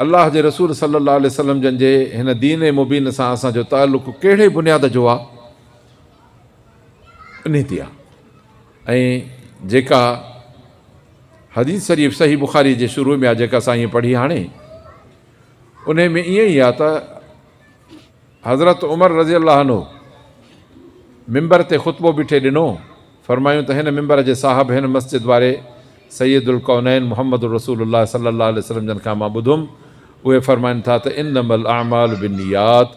الله جي رسول صلّي اللّٰه عليه وسلّم جن جي هن دين مبين سان اسان جو تعلق ڪهڙي بنياد جو آ؟ انهيء آ ۽ جيڪا حديث شريف صحيح بخاري جي شروع ۾ آ جيڪا سائين پڙهي هاڻي انهيء ۾ ائين ئي آ ته حضرت عمر رضي الله عنه منبر تي خطبو بيٺي ڏنو فرمايون ته هن منبر جي صاحب هن مسجد واري سيد الڪونين محمد رسول الله صلي الله عليه وسلم جن کان مان ٻڌم اهي فرمائن ٿا ته انما الاعمال بالنيات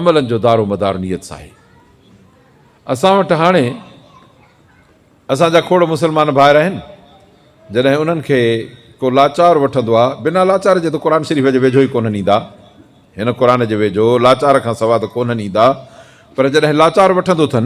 عملن جو دار و مدار نيت سان آهي اسان وٽ هاڻي اسان جا کوڙ مسلمان ڀائر آهن جڏهن انهن کي ڪو لاچار وٺندو آ بنا لاچار جي ته قرآن شريف جي ويجهو ئي ڪونهن ايندا هن قرآن جي ويجهو لاچار کان سوا ته ڪونهن ايندا پر جڏهن لاچار وٺندو ٿن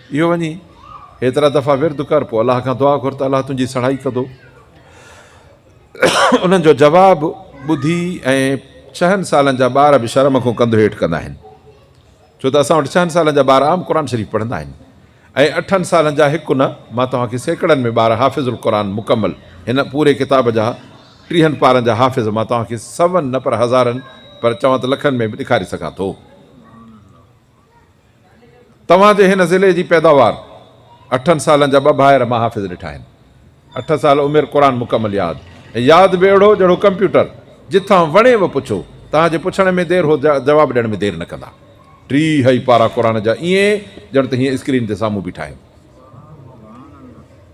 اهو وڃي ايترا دفعا ورد ڪر پوء الله کان دعا گهر ته الله تنهنجي سڙهائي ڪندو. انهن جو جواب ٻڌي ۽ ڇهن سالن جا ٻار به شرم کون ڪنڌ هيٺ ڪندا آهن ڇو ته اسان وٽ ڇهن سالن جا ٻار عام قرآن شريف پڙهندا آهن ۽ اٺن سالن جا هڪ نه مان توهان کي سيڪڙن ۾ ٻار حافظ القرآن مڪمل هن پوري ڪتاب جا ٽيهن پارن جا حافظ مان توهان کي سون نه پر هزارن پر چوان ته لکن ۾ به ڏيکاري سگهان ٿو. توهان جي هن ضلعي جي پيداوار اٺن سالن جا ٻه ڀائر مان حافظ ڏٺا آهن اٺ سال عمر قرآن مڪمل ياد ۽ ياد به اهڙو جهڙو ڪمپيوٽر جتان وڻي و پڇو توهان جي پڇڻ ۾ دير هو جواب ڏيڻ ۾ دير نه ڪندا ٽيهه ئي پارا قرآن جا ائين ڄڻ ته هيئن اسڪرين تي سامهون بيٺا آهيون.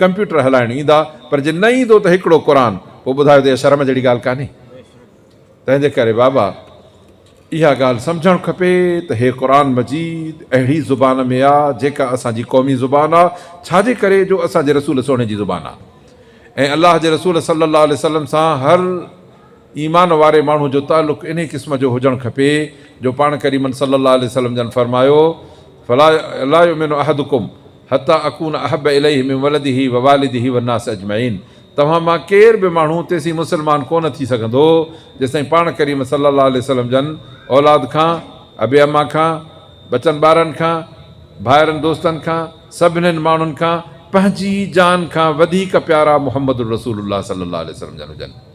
ڪمپيوٽر هلائڻ ايندا پر جي نه ايندو ته هڪڙو قرآن پوء ٻڌايو ته اها شرم جهڙي ڳالهه ڪانهي تنهنجي ڪري بابا اها ڳالهه سمجهڻ کپي ته هي قرآن مجيد اهڙي زبان ۾ آ جيڪا اسان جي قومي زبان آ ڇا جي ڪري جو اسان جي رسول سهڻي جي زبان آ ۽ الله جي رسول صلي الله عليه وسلم سان هر ايمان واري ماڻهو جو تعلق انهي قسم جو هجڻ کپي جو پاڻ ڪريمن صلي الله عليه وسلم جن فرمايو فلا لا يؤمن احدڪم حتي اڪون احب اليه من ولده ووالده والناس اجمعين توهان مان ڪير به ماڻهو تيسين مسلمان ڪو نه ٿي سگهندو جيسين پاڻ ڪريم صلي الله عليه وسلم جن اولاد کان، ابي اما کان، ٻچن ٻارن کان، ڀائرن دوستن کان، سڀنين ماڻهن کان پنهنجي جان کان وڌيڪ پيارا محمد الرسول الله صلي الله عليه وسلم جن هجن.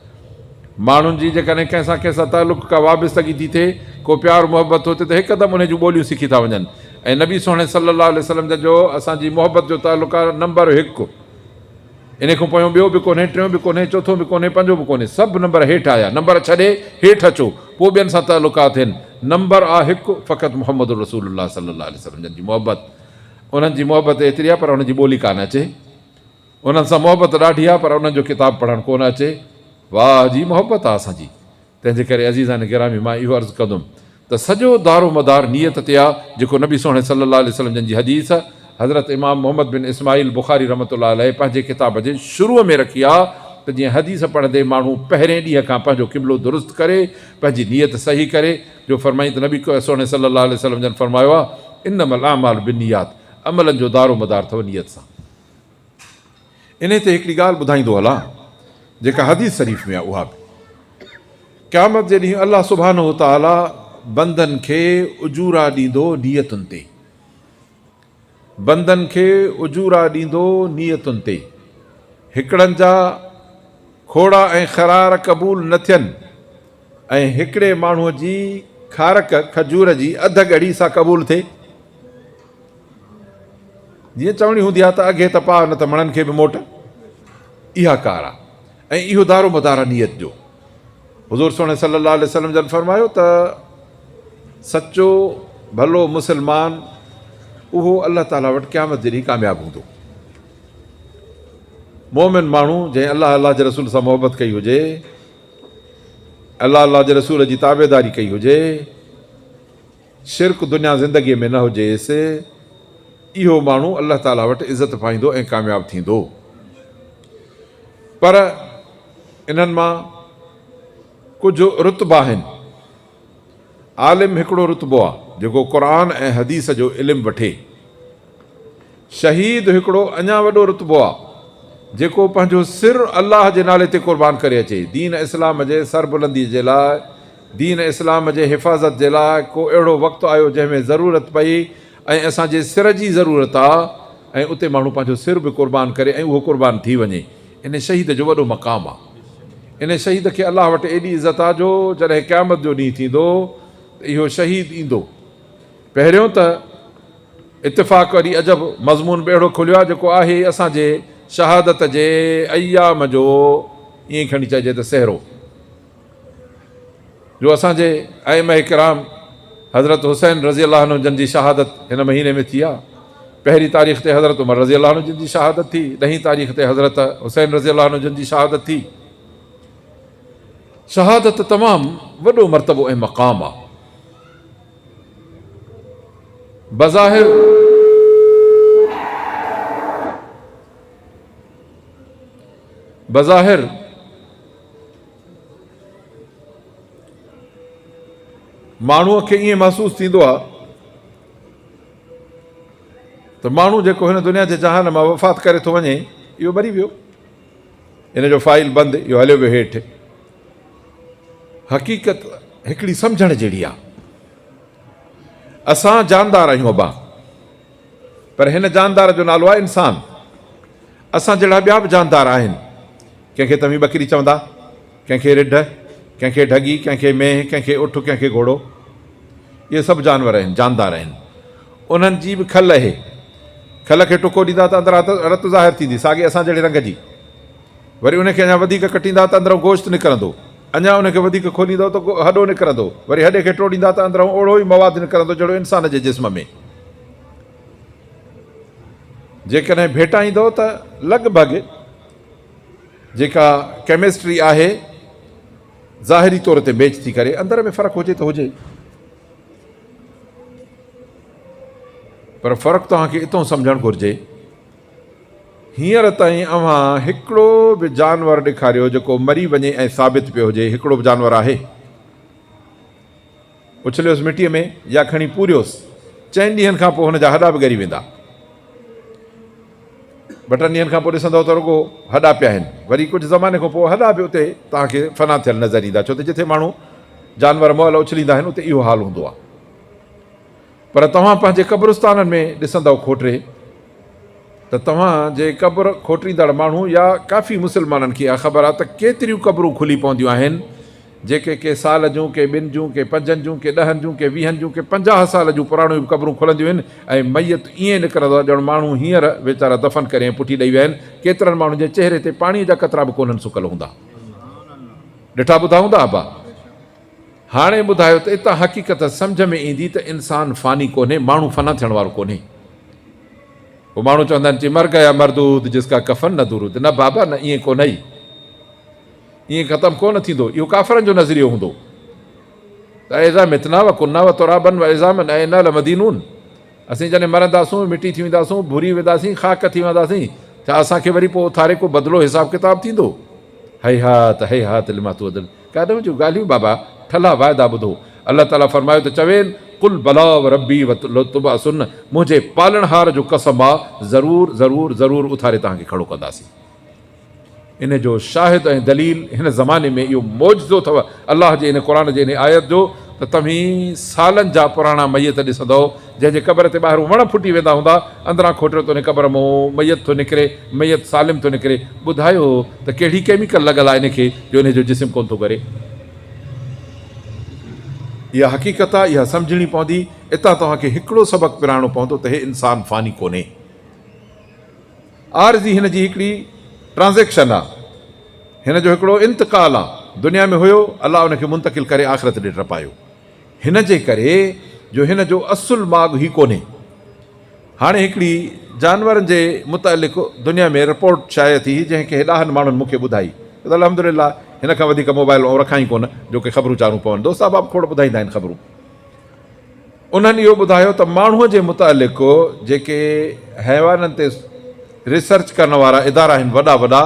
ماڻهن جي جيڪڏهن ڪنهن سان ڪنهن سان تعلق ڪا وابستگي ٿي ٿئي، ڪو پيار محبت ٿو ٿئي ته هڪدم انهي جون ٻوليون سکي ٿا وڃن ۽ نبي سهڻي صلّي اللّٰه عليه وسلّم جن جو اسان جي محبت جو تعلق آهي نمبر هڪ انهي کون پويون ٻيو به ڪونهي ٽيون به ڪونهي چوٿون به ڪونهي پنجون به ڪونهي سڀ نمبر هيٺ آيا نمبر ڇڏي هيٺ اچو پوء ٻين سان تعلقات ٿين نمبر آ هڪ فقط محمد رسول اللّٰه صلّي اللّٰه عليه وسلّم جن جي محبت انهن جي محبت ايتري آهي پر انهن جي ٻولي ڪانه اچي انهن سان محبت ڏاڍي آ پر انهن جو ڪتاب پڙهڻ ڪونه اچي واهه جي محبت آ اسان جي تنهنجي ڪري عزيزان گرامي مان اهو عرض ڪندم ته سڄو دارو مدار نيت تي آ جيڪو نبي سهڻي صلي الله عليه وسلم جن جي حديث حضرت امام محمد بن اسماعيل بخاري رحمة الله عليه پنهنجي ڪتاب جي شروع ۾ رکي آ ته جيئن حديث پڙهندي ماڻهو پهرين ڏينهن کان پنهنجو قبلو درست ڪري پنهنجي نيت صحيح ڪري جو فرمائين ته نبي سهڻي صلي الله عليه وسلم جن فرمايو آ انما الاعمال بالنيات عملن جو دارو مدار ٿو نيت سان انهي تي هڪڙي ڳالهه ٻڌائيندو هلان جيڪا حديث شريف ۾ آهي اها به قيامت جي ڏينهن الله سبحانه وتعالي بندن کي اجورا ڏيندو نيتن تي بندن کي اجورا ڏيندو نيتن تي هڪڙن جا کوڙا ۽ خرار قبول نه ٿين ۽ هڪڙي ماڻهو جي کارڪ کجور جي اڌ ڳڙي سا قبول ٿئي جيئن چوڻي هوندي آ ته اگهي ته پاء نه ته مڻن کي به موٽ اها ڪار آ ۽ اهو دارو مدار آ نيت جو. حضور سهڻي صلي الله عليه وسلم جن فرمايو ته سچو ڀلو مسلمان اهو الله تعالي وٽ قيامت جي ڏينهن ڪامياب هوندو. مؤمن ماڻهو جنهن الله الله جي رسول سان محبت ڪئي هجي الله الله جي رسول جي تابعداري ڪئي هجي. شرڪ دنيا زندگيء ۾ نه هجيس، اهو ماڻهو الله تعاليٰ وٽ عزت پائيندو ۽ ڪامياب ٿيندو. پر انهن مان ڪجهه رتبا آهن. عالم هڪڙو رتبو آهي، جيڪو قرآن ۽ حديث جو علم وٺي. شهيد هڪڙو اڃا وڏو رتبو آهي، جيڪو پنهنجو سر الله جي نالي تي قربان ڪري اچي، دين اسلام جي سربلنديء جي لاء دين اسلام جي حفاظت جي لاء ڪو اهڙو وقت آيو جنهن ۾ ضرورت پئي ۽ اسان جي سر جي ضرورت آ ۽ اتي ماڻهو پنهنجو سر به قربان ڪري ۽ اهو قربان ٿي وڃي ان شهيد جو وڏو مقام آ ان شهيد کي الله وٽ ايڏي عزت آ جو جڏهن قيامت جو ڏينهن ٿيندو ته اهو شهيد ايندو پهريون ته اتفاق وري عجب مضمون به اهڙو کليو آ جيڪو آهي اسان جي شهادت جي ايام جو ائين کڻي چئجي ته سهرو. جو اسان جي ائمه ڪرام حضرت حسين رضي الله عنه جن جي شهادت هن مهيني ۾ ٿي آ. پهرين تاريخ تي حضرت عمر رضي الله عنه جن جي شهادت ٿي، ڏهين تاريخ تي حضرت حسين رضي الله عنه جن جي شهادت ٿي. شهادت تمام وڏو مرتبو ۽ مقام آ. بظاهر بظاهر ماڻهوء کي ائين محسوس ٿيندو آهي ته ماڻهو جيڪو هن دنيا جي جهان مان وفات ڪري ٿو وڃي اهو مري ويو ان جو فائل بند اهو هليو ويو هيٺ حقيقت هڪڙي سمجهڻ جهڙي آهي اسان جاندار آهيون ابا پر هن جاندار جو نالو آهي انسان. اسان جهڙا ٻيا به جاندار آهن. ڪنهن کي توهين ٻڪري چوندا، ڪنهن کي رڍ، ڪنهن کي ڍڳي، ڪنهن کي مينهن، ڪنهن کي اٺ، ڪنهن کي گهوڙو. اهي سڀ جانور آهن، جاندار آهن. انهن جي به کل اهي. کل کي ٽڪو ڏيندا ته اندران رت ظاهر ٿيندي، ساڳي اسان جهڙي رنگ جي. وري ان کي اڃا وڌيڪ ڪٽيندا ته اندرئون گوشت نڪرندو. اڃا ان کي وڌيڪ کوليندؤ ته هڏو نڪرندو. وري هڏي کي ٽوڙيندا ته اندرئون اوڙهو ئي مواد نڪرندو جهڙو انسان جي جسم ۾. جيڪڏهن ڀيٽائيندؤ ته لڳ ڀڳ جيڪا ڪيمسٽري آهي ظاهري طور تي ميچ ٿي ڪري. اندر ۾ فرق هجي ته هجي. پر فرق توهان کي اتهون سمجهڻ گهرجي هينئر تائين اوهان هڪڙو به جانور ڏيکاريو جيڪو مري وڃي ۽ ثابت پيو هجي هڪڙو به جانور آهي؟ اڇليوس مٽيء ۾ يا کڻي پوريوس چئن ڏينهن کان پوء هن جا هڏا به ڳري ويندا. ٻه ٽن ڏينهن کان پوء ڏسندؤ ته رڳو هڏا پيا آهن. وري ڪجهه زماني کان پوء هڏا به اتي توهان کي فنا ٿيل نظر ايندا ڇو ته جٿي ماڻهو جانور مئل اڇليندا آهن اتي اهو حال هوندو آهي. پر توهان پنهنجي قبرستانن ۾ ڏسندؤ کوٽري ته توهان جي قبر کوٽريندڙ ماڻهو يا ڪافي مسلمانن کي اها خبر آهي ته ڪيتريون قبرون کلي پونديون آهن جيڪي ڪي سال جون ڪي ٻن جون ڪي پنجن جون ڪي ڏهن جون ڪي ويهن جون ڪي پنجاهه سال جون پراڻيون به قبرون کلنديون آهن ۽ ميت ائين نڪرندو آهي ڄڻ ماڻهو هينئر ويچارا دفن ڪري ۽ پٺي ڏئي ويا آهن ڪيترن ماڻهن جي چهري تي پاڻي جا قطرا به ڪونهن سڪل هوندا ڏٺا ٻڌا هوندا ابا. هاڻي ٻڌايو ته اتان حقيقت سمجهه ۾ ايندي ته انسان فاني ڪونهي، ماڻهو فنا ٿيڻ وارو ڪونهي. پوء ماڻهو چوندا آهن چي مر گيا مردود جس ڪا ڪفن نه درود، نه بابا نه ائين ڪونهي. ائين ختم ڪونه ٿيندو، اهو ڪافرن جو نظريو هوندو ته اذا متنا وڪنا وترابا وعظاما ائنا لمدينون. اسين جڏهن مرنداسون، مٽي ٿي وينداسون، ڀري وينداسين، خاڪ ٿي وهنداسين، ڇا اسان کي وري پوء اٿاري ڪو بدلو حساب ڪتاب ٿيندو؟ هيهات هيهات لما توعدون ڪاڏهن جون ڳالهيون بابا، ٺلها واعدا ٻڌو. الله تعاليٰ فرمايو ته چوين، قل بليٰ وربي لتبعثن منهنجي پالڻهار جو قسم آ، ضرور ضرور ضرور اٿاري توهان کي کڙو ڪنداسين. ان جو شاهد ۽ دليل هن زماني ۾ اهو معجزو اٿو الله جي ان قرآن جي انهي آيت جو ته توهين سالن جا پراڻا ميت ڏسندؤ جنهن جي قبر تي ٻاهرون وڻ ڦٽي ويندا هوندا اندران کوٽيو ته انهي قبر مون ميت ٿو نڪري ميت سالم ٿو نڪري ٻڌايو ته ڪهڙي ڪيميڪل لڳل آهي انهي کي جو انهي جو جسم ڪونه ٿو ڳري. اها حقيقت آهي اها سمجهڻي پوندي اتان توهان کي هڪڙو سبق پراڻو پوندو ته هي انسان فاني ڪونهي. عارضي هن جي هڪڙي ٽرانزيڪشن آ هن جو هڪڙو انتقال آ دنيا ۾ هيو الله ان کي منتقل ڪري آخرت ڏي ٽپايو هن جي ڪري جو هن جو اصل ماڳ هي ڪونهي هاڻي هڪڙي جانورن جي متعلق دنيا ۾ رپورٽ شايع ٿي جنهن کي ڏاهن ماڻهن مون کي ٻڌائي الحمدلله هن کان وڌيڪ موبائل آئون رکان ئي ڪونه جو ڪي خبرون چارون پون دوست احباب کوڙ ٻڌائيندا آهن خبرون انهن اهو ٻڌايو ته ماڻهوء جي متعلق جيڪي حيوانن تي ريسرچ ڪرڻ وارا ادارا آهن وڏا وڏا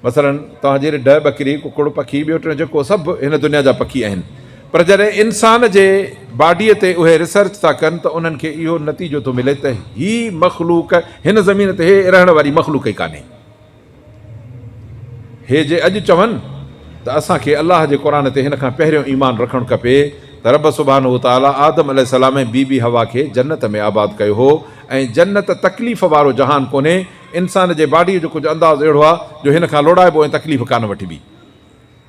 مثلا توهان جي رڍ، ٻڪري، ڪڪڙ، پکي، ٻيو ٽيون جيڪو سڀ هن دنيا جا پکي آهن پر جڏهن انسان جي باڊيء تي اهي ريسرچ ٿا ڪن ته انهن کي اهو نتيجو ٿو ملي ته هي مخلوق هن زمين تي هي رهڻ واري مخلوق ئي ڪانهي. هي جي اڄ چون ته اسان کي الله جي قرآن تي هن کان پهريون ايمان رکڻ کپي ته رب سبحانه وتعاليٰ آدم عليه السلام ۽ بي بي حوا کي جنت ۾ آباد ڪيو هو ۽ جنت تڪليف وارو جهان ڪونهي انسان جي باڊيء جو ڪجهه انداز اهڙو آهي جو هن کان لوڙائبو ۽ تڪليف ڪانه وٺبي.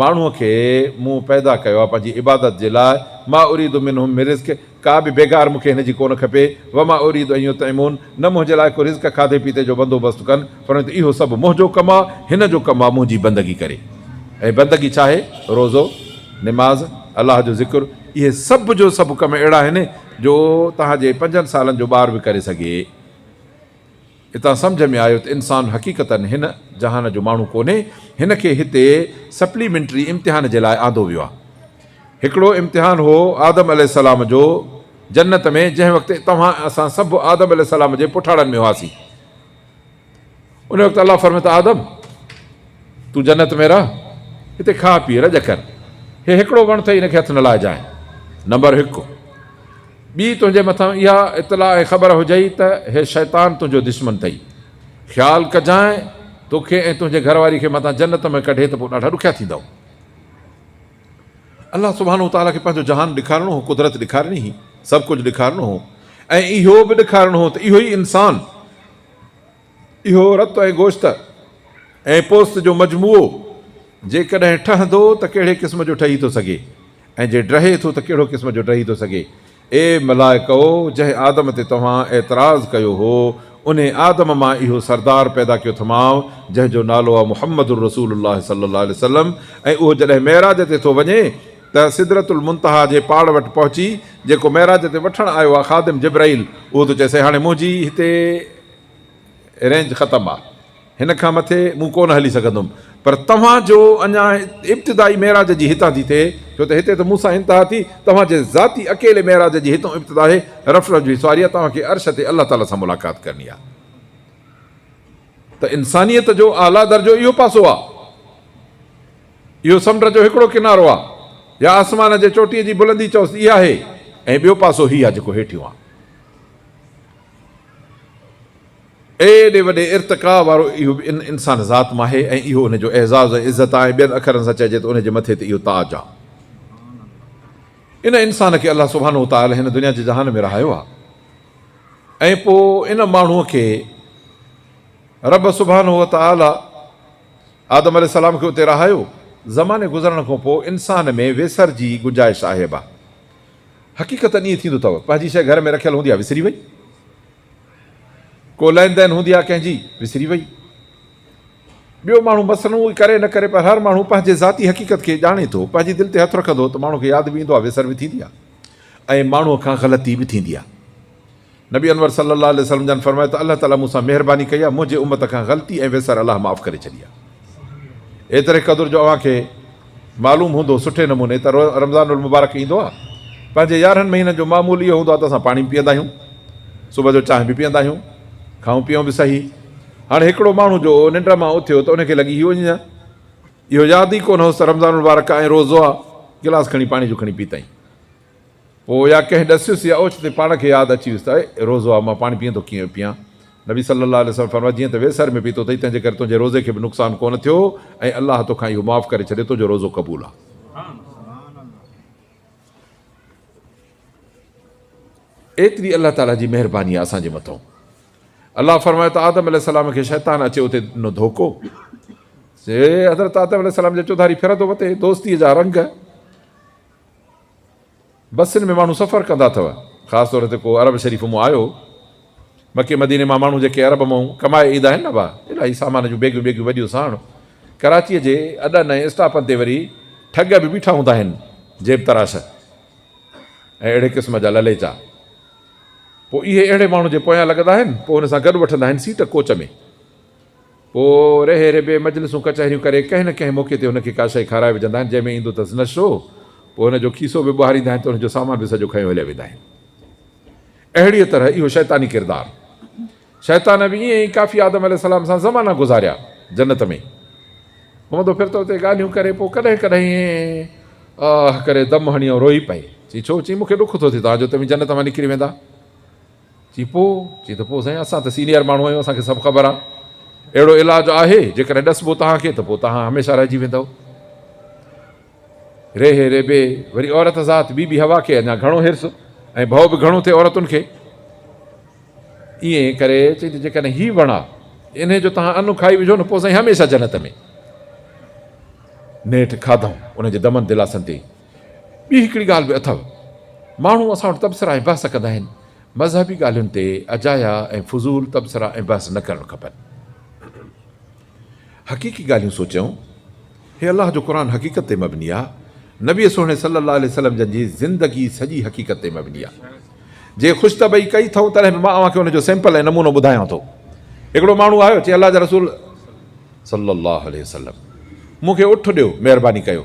ماڻهوء کي مون پيدا ڪيو آهي پنهنجي عبادت جي لاء، ما اريد منهم من رزق، ڪا به بيگار مون کي هن جي ڪونه کپي، وما اريد ان يطعمون، نه منهنجي لاء ڪو رزق کاڌي پيتي جو بندوبست ڪن، فرمايائون ته اهو سڀ منهنجو ڪم آهي، هن جو ڪم آهي منهنجي بندگي ڪري ۽ بندگي ڇا آهي؟ روزو، نماز، الله جو ذڪر، اهي سڀ جو سڀ ڪم اهڙا آهن جو توهان جي پنجن سالن جو ٻار به ڪري سگهي. هتان سمجهه ۾ آيو ته انسان حقيقتن هن جهان جو ماڻهو ڪونهي، هن کي هتي سپليمينٽري امتحان جي لاء آندو ويو آهي. هڪڙو امتحان هو آدم عليه السلام جو جنت ۾ جنهن وقت توهان ۽ اسان سڀ آدم عليه السلام جي پٺاڙن ۾ هئاسين. ان وقت الله فرمايو ته آدم! تون جنت ۾ رهه، هتي کاء پيء، رڄ ڪر. هي هڪڙو وڻ اٿئي ان کي هٿ نه لائجانء. نمبر هڪ! ٻي تنهنجي مٿان اها اطلاع ۽ خبر هجئي ته هي شيطان تنهنجو دشمن ٿئي. خيال ڪجانء توکي ۽ تنهنجي گهر واري کي متان جنت ۾ ڪڍي ته پوء ڏاڍا ڏکيا ٿيندؤ. الله سبحانه وتعاليٰ کي پنهنجو جهان ڏيکارڻو هو، قدرت ڏيکارڻي هئي، سڀ ڪجهه ڏيکارڻو هو ۽ اهو به ڏيکارڻو هو ته اهو ئي انسان، اهو رت ۽ گوشت ۽ پوست جو مجموعو جيڪڏهن ٺهندو ته ڪهڙي قسم جو ٺهي ٿو سگهي ۽ جي ڊهي ٿو ته ڪهڙو قسم جو ڊهي ٿو سگهي؟ اي ملائڪؤ! جنهن آدم تي توهان اعتراض ڪيو هو، انهي آدم مان اهو سردار پيدا ڪيو ٿمانء جنهن جو نالو آ محمد رسول الله صلّي الله عليه وسلّم ۽ اهو جڏهن معراج تي ٿو وڃي ته سدرة المنتهيٰ جي پاڙ وٽ پهچي جيڪو معراج تي وٺڻ آيو آ خادم جبرئيل اهو ٿو چئي سي هاڻي منهنجي هتي رينج ختم آ هن کان مٿي مون ڪونه هلي سگهندم پر توهان جو اڃا ابتدائي معراج جي هتان ٿي ٿئي ڇو ته هتي ته مون سان انتها ٿي توهان جي ذاتي اڪيلي معراج جي هتون ابتدا آهي رف رف جي سواري آ توهان کي عرش تي الله تعالي سان ملاقات ڪرڻي آ ته انسانيت جو اعليٰ درجو اهو پاسو آ اهو سمنڊ جو هڪڙو ڪنارو آ يا آسمان جي چوٽي جي بلندي چئوس اها آهي ۽ ٻيو پاسو هي آ جيڪو هيٺيون آ. ايڏي وڏي ارتقا وارو اهو به ان انسان ذات مان آهي ۽ اهو ان جو اعزاز ۽ عزت آهي، ٻين اکرن سان چئجي ته ان جي مٿي تي اهو تاج آ. ان انسان کي الله سبحانه وتعالي هن دنيا جي جهان ۾ رهايو آ ۽ پوء ان ماڻهوء کي رب سبحانه وتعالي آدم عليه السلام کي اتي رهايو. زماني گذرڻ کان پوء انسان ۾ ويسر جي گنجائش آهي به. حقيقتن ائين ٿيندو اٿئو، پنهنجي شيء گهر ۾ رکيل هوندي آ وسري وئي، ڪو لين دين هوندي آ ڪنهن جي وسري وئي. ٻيو ماڻهو مثلاً اهو ڪري نه ڪري پر هر ماڻهو پنهنجي ذاتي حقيقت کي ڄاڻي ٿو، پنهنجي دل تي هٿ رکندو ته ماڻهو کي ياد به ايندو آ وسر به ٿيندي آ ۽ ماڻهوء کان غلطي به ٿيندي آ. نبي انور صلّي اللّٰه عليه وسلّم جان فرمايو ته الله تعالٰي مون سان مهرباني ڪئي آهي، منهنجي امّت کان غلطي ۽ ويسر الله معاف ڪري ڇڏي آهي. ايتري قدر جو اوهان کي معلوم هوندو سٺي نموني ته رمضان المبارڪ ايندو آهي، پنهنجي يارهن مهينن جو معمول اهو هوندو آهي ته اسان پاڻي به پيئندا آهيون، صبح جو چانهه به پيئندا آهيون، کائون پيئون به صحيح. هاڻي هڪڙو ماڻهو جو ننڊ مان اٿيو ته ان کي لڳي هي اڃ اهو ياد ئي ڪونه هوس ته رمضان المبارڪ آهي ۽ روزو آهي، گلاس کڻي پاڻي جو کڻي پيتائين. پوء يا ڪنهن ڏسيس يا اوچتي پاڻ کي ياد اچي ويس ته اي روزو آء مان پاڻي پيئندو ڪيئن پيئان؟ نبي صلّي الله عليه وسلّم فرمايو جيئن ته ويسر ۾ پيتو اٿئي تنهنجي ڪري تنهنجي روزي کي به نقصان ڪونه ٿيو ۽ الله توکان اهو معاف ڪري ڇڏيو تنهنجو روزو قبول آ. ايتري الله تعاليٰ جي مهرباني آ اسان جي مٿان. الله فرمايو ته آدم عليه السلّام کي شيطان اچي اتي ڏنو ڌوڪو. سي حضرت آدم عليه السلّام جا چوڌاري ڦرندو وتي دوستيء جا رنگ. بسن ۾ ماڻهو سفر ڪندا اٿو، خاص طور تي ڪو عرب شريف مون آيو، مڪي مديني مان ماڻهو جيڪي عرب مون ڪمائي ايدا آهن نه اها الاهي سامان جون بيگيون بيگيون وڏيون ساڻ ڪراچيء جي اڏن ۽ اسٽاپن تي وري ٺڳ به بيٺا هوندا آهن جيب تراش ۽ اهڙي قسم جا لليچا پوء اهي اهڙي ماڻهو جي پويان لڳندا آهن پوء هن سان گڏ وٺندا آهن سيٽ ڪوچ ۾ پوء رهي ربي مجلسون ڪچهريون ڪري ڪنهن نه ڪنهن موقعي تي هن کي ڪا شيء کارائي وجهندا آهن، جنهن ۾ ايندو اٿس نشو، پوء هن جو کيسو به ٻهاريندا آهن ته ان جو سامان به سڄو کنيو هليا ويندا آهن. اهڙيء طرح اهو شيطاني ڪردار. شيطان به ائين ئي ڪافي آدم عليه السلام سان زمانا گذاريا جنت ۾. گهمندو ڦرتو اتي ڳالهيون ڪري، پوء ڪڏهن ڪڏهن ائين آه ڪري دم هڻي ۽ روئي پئي. چئي ڇو؟ چئي مون کي ڏک ٿو ٿئي توهان جو توهين جنت مان نڪري ويندا. چي پوء؟ چي ته پوء سائين اسان ته سينيئر ماڻهو آهيون اسان کي سڀ خبر آهي اهڙو علاج آهي جيڪڏهن ڏسبو توهان کي ته پوء توهان هميشه رهجي ويندؤ. ريهي ريبي وري عورت ذات بي بي حوا کي اڃا گهڻو حرص ۽ ڀؤ به گهڻو ٿئي عورتن کي ائين ڪري چي ته جيڪڏهن هي وڻ آهي انهي جو توهان ان کائي وجهو نه پوء سائين هميشه جنت ۾. نيٺ کاڌائون ان جي دمن دلاسن تي ٻي هڪڙي ڳالهه به اٿو. ماڻهو اسان وٽ تبصرا ۽ بحث ڪندا آهن. مذهبي ڳالهين تي اجايا ۽ فضول تبصرا ۽ بحث نه ڪرڻ کپن. حقيقي ڳالهيون سوچيون. هي الله جو قرآن حقيقت تي مبني آ. نبي سهڻي صلّي الله عليه وسلّم جن جي زندگي سڄي حقيقت تي مبني آ. جي خوش طبعي ڪئي ٿئو تڏهن به مان اوهان کي ان جو سيمپل ۽ نمونو ٻڌايان ٿو. هڪڙو ماڻهو آيو چي الله جا رسول صلّي الله عليه وسلّم مون کي اٺ ڏيو مهرباني ڪيو.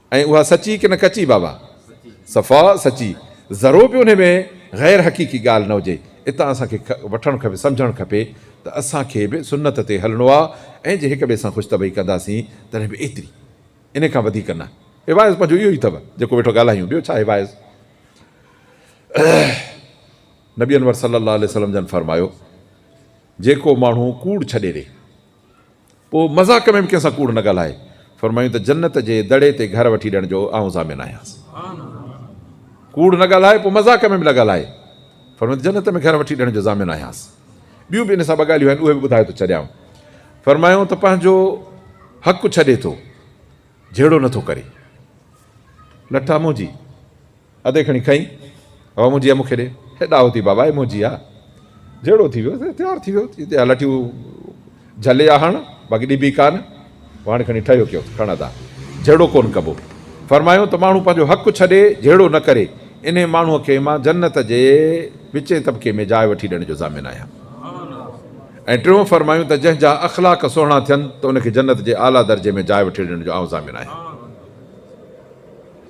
۽ اها سچي ڪنه ڪچي بابا؟ صفا سچي. ذرو به انهي ۾ غير حقيقي ڳالهه نه هجي. اتان اسان کي وٺڻ کپي سمجهڻ کپي ته اسان کي به سنت تي هلڻو آ ۽ جي هڪ ٻئي سان خوش طبعي ڪنداسين تڏهن به ايتري انهي کان وڌيڪ نه. هي واعظ پنهنجو اهو ئي اٿو جيڪو ويٺو ڳالهايون ٻيو ڇا هي واعظ نبي انور صلي الله عليه وسلم جن فرمايو جيڪو ماڻهو ڪوڙ ڇڏي ڏي. پوء مذاق ۾ به ڪنهن سان ڪوڙ نه ڳالهائي. فرمايائون ته جنت جي دڙي تي گهر وٺي ڏيڻ جو آئون ضامن آهيانس. ڪوڙ نه ڳالهائي، پوء مذاق ۾ به نه ڳالهائي. فرمايائون ته جنت ۾ گهر وٺي ڏيڻ جو ضامن آهيانس. ٻيون به ان سان ٻه ڳالهيون آهن، اهي به ٻڌائي ٿو ڇڏيانء. فرمايائون ته پنهنجو حق ڇڏي ٿو، جهيڙو نه ٿو ڪري. لٺا منهنجي. ادي کڻي کئين هو منهنجي امو کي ڏي. هيڏا هوتي بابا امو جي آ جهڙو ٿي ويو تيار ٿي ويو چيندي آ لٺيون جهلي آ هڻ باقي ڏبي ڪانه وهاڻي کڻي ٺهيو ڪيو ته کڻ ادا جهڙو ڪونه ڪبو فرمايو ته ماڻهو پنهنجو حق ڇڏي جهيڙو نه ڪري انهي ماڻهو کي مان جنت جي وچين طبقي ۾ جاء وٺي ڏيڻ جو ضامن آهيان ۽ ٽيون فرمايون ته جنهن جا اخلاق سهڻا ٿين ته ان کي جنت جي اعليٰ درجي ۾ جاء وٺي ڏيڻ جو آئون ضامن آهيان.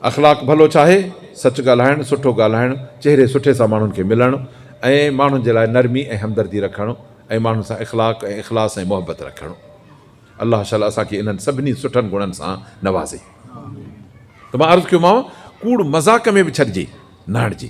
اخلاق ڀلو ڇا آهي؟ سچ ڳالهائڻ، سٺو ڳالهائڻ، چهري سٺي سان ماڻهن کي ملڻ ۽ ماڻهن جي لاء نرمي ۽ همدردي رکڻ ۽ ماڻهن سان اخلاق ۽ اخلاص ۽ محبت رکڻ. الله شل اسان کي انهن سڀني سٺن گڻن سان نوازي. ته مان عرض ڪيومانء، ڪوڙ مذاق ۾ به ڇڏجي، نه هڻجي.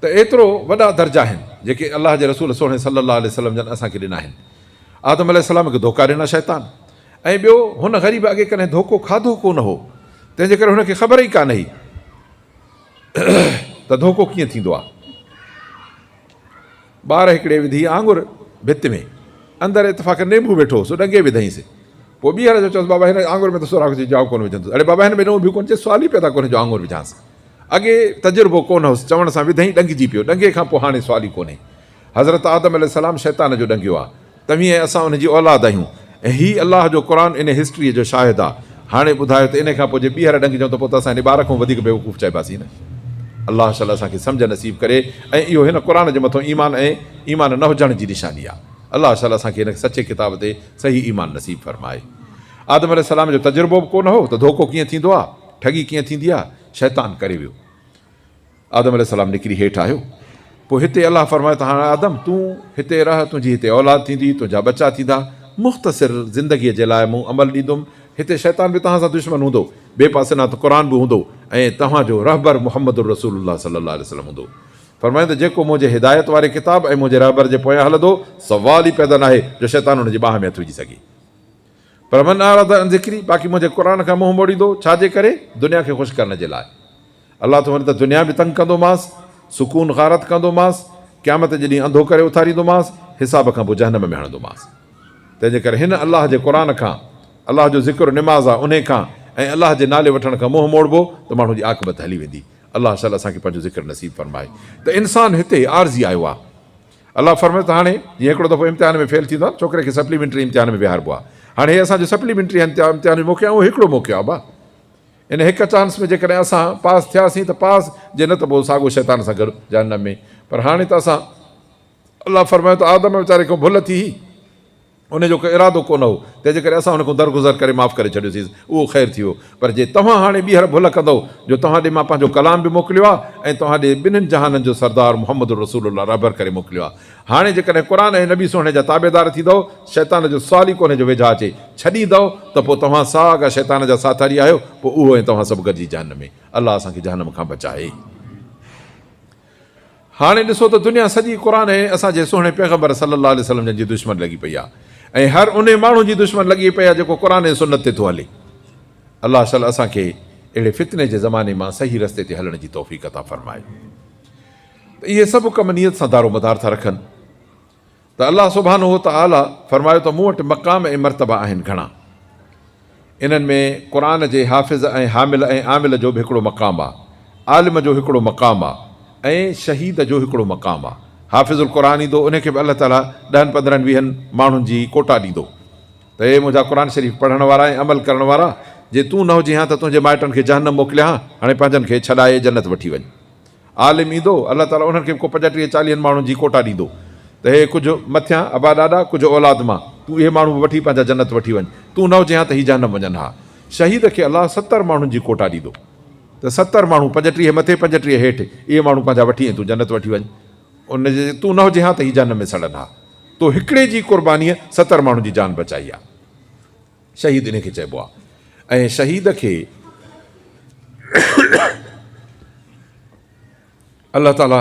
ته ايترو وڏا درجا آهن جيڪي الله جي رسول سهڻي صلّي اللّٰه عليه وسلّم جن اسان کي ڏنا آهن. آدم عليه السّلام کي ڌوڪا ڏنا شيطان ۽ ٻيو هن غريب اڳي ڪڏهن ڌوڪو کاڌو ڪو نه هو تنهن جي ڪري هن کي خبر ئي ڪانه هئي ته ڌوڪو ڪيئن ٿيندو آهي. ٻار هڪڙي وڌي آڱر ڀت ۾، اندر اتفاقن نينبو ويٺو هو، سو ڏنگي وڌئينس. پوء ٻيهر اچي چيس، بابا هن آڱر ۾ ته سوراخ جي جاء ڪونه وجهندس. اڙي بابا هن ۾ نون به ڪونه چيس، سوال ئي پيدا ڪونهي جو آڱر وجهانس. اڳي تجربو ڪونه هوس، چوڻ سان وڌئين ڏنگجي پيو. ڏنگي کان پوء هاڻي سوال ئي ڪونهي. حضرت آدم عليه السلام شيطان جو ڏنگيو آ. توهين ۽ اسان ان جي اولاد آهيون ۽ هي الله جو قرآن ان هسٽريء جو شاهد آ. هاڻي ٻڌايو ته انهي کان پوء جي ٻيهر ڏنگجون ته پوء ته اسان انهي ٻار کانئون وڌيڪ بيوقوف چئباسين نه؟ الله شل اسان کي سمجهه نصيب ڪري ۽ اهو هن قرآن جي مٿو ايمان ۽ ايمان نه هجڻ جي نشاني آ. الله شل اسان کي هن سچي ڪتاب تي صحيح ايمان نصيب فرمائي. آدم عليه السلام جو تجربو به ڪو نه هو ته ڌوڪو ڪيئن ٿيندو آ، ٺڳي ڪيئن ٿيندي آ، شيطان ڪري ويو. آدم عليه السلام نڪري هيٺ آيو. پوء هتي الله فرمايو ته هاڻ آدم تون هتي رهه، تنهنجي هتي اولاد ٿيندي، تنهنجا ٻچا ٿيندا، مختصر زندگيء جي لاء مون عمل ڏيندم، هتي شيطان به توهان سان دشمن هوندو، ٻئي پاسي نات قرآن به هوندو ۽ توهان جو رهبر محمد رسول الله صلي الله عليه وسلم هوندو. فرمايائون ته جيڪو منهنجي هدايت واري ڪتاب ۽ منهنجي رهبر جي پويان هلندو، سوال ئي پيدا ناهي جو شيطان ان جي ٻانهن ۾ هٿ وجهي سگهي. پر من اعرض عن ذڪري باقي منهنجي قرآن کان منهن موڙيندو، ڇا جي ڪري؟ دنيا کي خوش ڪرڻ جي لاء. الله ٿو وري ته دنيا به تنگ ڪندومانس، سڪون غارت ڪندومانس، قيامت جي ڏينهن انڌو ڪري اٿاريندومانس، حساب کان پوء جهنم ۾ هڻندومانس. تنهن جي ڪري هن، الله جي قرآن، کان، الله جو ذڪر نماز آ، انهي کان ۽ الله جي نالي وٺڻ کان منهن موڙبو ته ماڻهو جي عاقبت هلي ويندي. الله شل اسان کي پنهنجو ذڪر نصيب فرمائي. ته انسان هتي عارضي آيو آ. الله فرمايو ته هاڻي جيئن هڪڙو دفعو امتحان ۾ فيل ٿيندو آهي ڇوڪري کي سپليمينٽري امتحان ۾ ويهاربو آهي هاڻي هي اسان جو سپليمينٽري امتحان جو موقعو آهي اهو هڪڙو موقعو آهي ابا ان هڪ چانس ۾ جيڪڏهن اسان پاس ٿياسين ته پاس جي نه ته پوء ساڳو شيطان سان گڏ جهنم ۾ پر هاڻي ته اسان الله فرمايو ته آدم ويچاري کان ڀل ٿي هئي ان جو ڪو ارادو ڪونه هو، تنهن جي ڪري اسان هن کون درگذر ڪري معاف ڪري ڇڏيوسينس، اهو خير ٿي ويو. پر جي توهان هاڻي ٻيهر ڀل ڪندؤ جو توهان ڏي مان پنهنجو ڪلام به موڪليو آهي ۽ توهان ڏي ٻنهين جهانن جو سردار محمد رسول الله رهبر ڪري موڪليو آهي. هاڻي جيڪڏهن قرآن ۽ نبي سهڻي جا تابعدار ٿيندؤ، شيطان جو سوال ئي ڪونهي جو ويجها اچي، ڇڏيندؤ ته پوء توهان ساڳا شيطان جا ساٿاري آهيو، پوء اهو ۽ توهان سڀ گڏجي جهنم ۾. الله اسان کي جهنم کان بچائي. هاڻي ڏسو ته دنيا سڄي قرآن ۽ اسان جي سهڻي پيغمبر صلّي اللّٰه عليه وسلّم جن جي دشمن لڳي پئي آهي ۽ هر انهي ماڻهو جي دشمن لڳي پئي آهي جيڪو قرآن ۽ سنّت تي ٿو هلي. الله شل اسان کي اهڙي فتني جي زماني مان صحيح رستي تي هلڻ جي توفيق عطا فرمائي ته اهي سڀ ڪم نيت سان دارومدار ٿا رکن. ته الله سبحانه وتعالي فرمايو ته مون وٽ مقام ۽ مرتبا آهن گهڻا. انهن ۾ قرآن جي حافظ ۽ حامل ۽ عامل جو به هڪڙو مقام آ، عالم جو هڪڙو مقام آ ۽ شهيد جو هڪڙو مقام آ. حافظ القرآن ايندو انهي کي به الله تعالي ڏهن پندرهن ويهن ماڻهن جي ڪوٽا ڏيندو ته اي منهنجا قرآن شريف پڙهڻ وارا ۽ عمل ڪرڻ وارا جي تون نه هجين ها ته تنهنجي مائٽن کي جهنم موڪليان ها هاڻي پنهنجن کي ڇڏائي جنت وٺي وڃ. عالم ايندو، الله تعاليٰ انهن کي به ڪو پنجٽيهه چاليهن ماڻهن جي ڪوٽا ڏيندو ته هي ڪجهه مٿيان ابا ڏاڏا ڪجهه اولاد مان تون اهي ماڻهو به وٺي پنهنجا جنت وٺي وڃ تون نه هجين ها ته هي جهنم وڃن ها شهيد کي الله ستر ماڻهن جي ڪوٽا ڏيندو ته ستر ماڻهو پنجٽيهه مٿي پنجٽيهه هيٺ اهي ماڻهو پنهنجا وٺي ۽ تون جنت وٺي وڃ ان جي تون نه هجين ها ته هي جهنم ۾ سڙن ها تو هڪڙي جي قربانيء ستر ماڻهن جي جان بچائي آهي. شهيد انهي کي چئبو آهي ۽ شهيد کي الله تعالي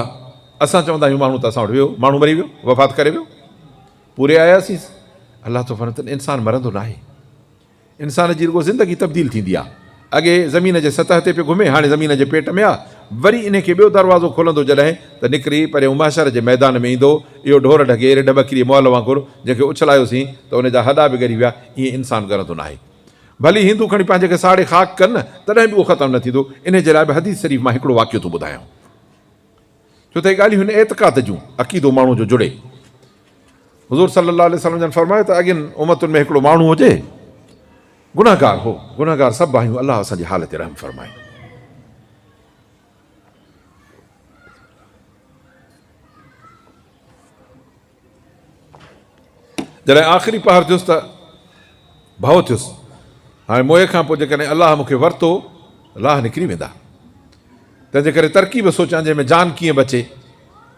اسان چوندا آهيون ماڻهو ته اسان وٽ ويو ماڻهو مري ويو وفات ڪري ويو پوري آياسينس الله ٿو فرمائي ته انسان مرندو ناهي انسان جي رڳو زندگي تبديل ٿيندي آهي اڳي زمين جي سطح تي پيو گهمي هاڻي زمين جي پيٽ ۾ آ وري انهي کي ٻيو دروازو کولندو جڏهن ته نڪري پريون محشر جي ميدان ۾ ايندو اهو ڍور ڍڳي رڍ ٻڪري مئل وانگر جنهن کي اڇلايوسين ته ان جا هڏا به ڳري ويا ائين انسان ڳرندو ناهي ڀلي هندو کڻي پنهنجي کي ساڙي خاڪ ڪن تڏهن به اهو ختم نه ٿيندو انهي جي لاء به حديث شريف مان هڪڙو واقعو ٿو ٻڌايانو ڇو ته اهي ڳالهيون هن اعتقاد جون، عقيدو ماڻهوء جو جڙي. حضور صلّي اللّٰه عليه وسلّم جن فرمايو ته اڳين امّتن ۾ هڪڙو ماڻهو هو جي گنهگار هو، گنهگار سڀ آهيون، الله اسان جي حال تي رحم فرمائي. جڏهن آخري پهر ٿيس ته ڀؤ ٿيس، هاڻي موئي کان پوء جيڪڏهن الله مون کي ورتو، لاهه نڪري ويندا. تنهن جي ڪري ترڪيب سوچيان جنهن ۾ جان ڪيئن بچي.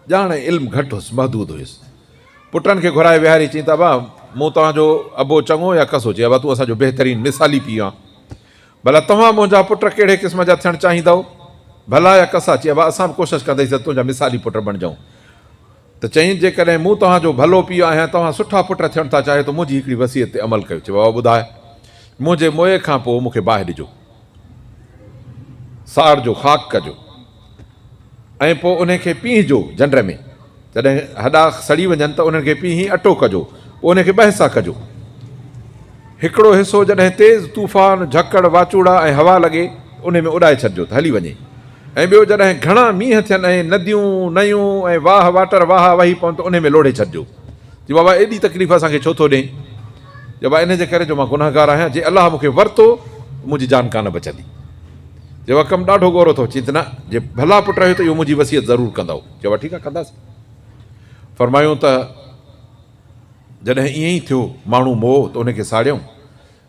ڄاڻ ۽ علم گهٽ هيس، محدود هيس. پٽن کي گهرائي ويهاري چيائين ته ابا مون توهان جو ابو چڱو يا ڪسو چي ابا تون اسان جو بهترين مثالي پيء آن. ڀلا توهان منهنجا پٽ ڪهڙي قسم جا ٿيڻ چاهيندؤ؟ ڀلا يا ڪسا؟ چي ابا اسان به ڪوشش ڪنديس ته تنهنجا مثالي پٽ بڻجئون. ته چيائين، جيڪڏهن مون توهان جو ڀلو پيء آهيان ۽ توهان سٺا پٽ ٿيڻ ٿا چاهيو ته منهنجي هڪڙي وصيت تي عمل ڪيو. چي بابا ٻڌاء، منهنجي موئي کان پوء مون کي باهه ڏجو، ساڙجو، خاڪ ڪجو ۽ پوء انهي کي پيهجو جنڊ ۾، جڏهن هڏا سڙي وڃن ته انهن کي پيهي اٽو ڪجو، پوء انهي کي ٻهه سان ڪجو. هڪڙو حصو جڏهن تيز طوفان، جهڪڙ، واچوڙا ۽ هوا لڳي انهي ۾ اڏائي ڇڏجو ته هلي وڃي ۽ ٻيو جڏهن گهڻا مينهن ٿين ۽ نديون، نيون ۽ واهه واٽر واهه وهي پون ته انهي ۾ لوڙهي ڇڏجو. جي بابا ايڏي تڪليف اسان کي ڇو ٿو ڏئين؟ جي بابا انهي جي ڪري جو مان گنهگار آهيان، جي الله مون کي ورتو ته منهنجي جان ڪانه بچندي. جي بابا ڪم ڏاڍو ڳورو اٿئو. چين ته نه، جي ڀلا پٽ رهيو ته اهو منهنجي وصيت ضرور ڪندؤ. چين بابا ٺيڪ آهي ڪنداسين. فرمايون ته. جڏهن ائين ئي ٿيو ماڻهو موهه ته ان کي ساڙيائون،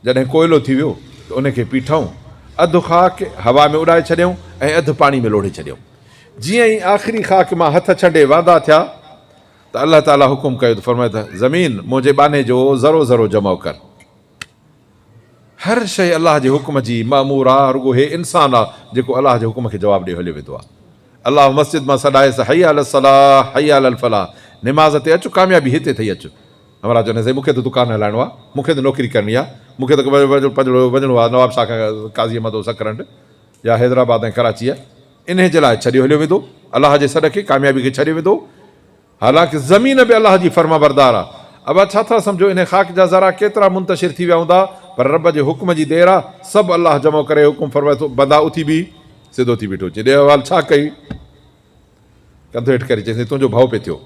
جڏهن ڪوئلو ٿي ويو ته ان کي پيٺائون، اڌ خاڪ هوا ۾ اڏائي ڇڏيائون ۽ اڌ پاڻي ۾ لوڙهي ڇڏيائون. جيئن ئي آخري خاڪ مان هٿ ڇنڊي واندا ٿيا ته الله تعاليٰ حڪم ڪيو ته فرمايو ته زمين منهنجي ٻانهي جو ذرو ذرو جمع ڪر. هر شيء الله جي حڪم جي مامور آ، رڳو هي انسان آ جيڪو الله جي حڪم کي جواب ڏيئي هليو ويندو آ. الله مسجد مان سڏائيس حي علي الصلاح حي علي الفلاح نماز تي اچ ڪاميابي هتي اٿئي اچ. همراهه چون ٿا سائين مون کي ته دڪان هلائڻو آ، مون کي ته نوڪري ڪرڻي آ، مون کي ته پنجڙو وڃڻو آ نواب شاهه کان قاضيء مدو سڪرنڊ يا حيدرآباد ۽ ڪراچيء انهي جي لاء ڇڏيو هليو ويندو الله جي سڏ کي ڪاميابي کي ڇڏيو ويندو. حالانڪ زمين به الله جي فرمانبردار آ. اوهان ڇا ٿا سمجهو انهي خاڪ جا ذرا ڪيترا منتشر ٿي ويا هوندا؟ پر رب جي حڪم جي دير آ، سڀ الله جمع ڪري حڪم فرمائي ٿو، بندا اٿي بيهه، سڌو ٿي بيٺو چي، ڏي احوال ڇا ڪئي؟ ڪنڌ هيٺ ڪري چيسين، تنهنجو ڀؤ پئي ٿيو.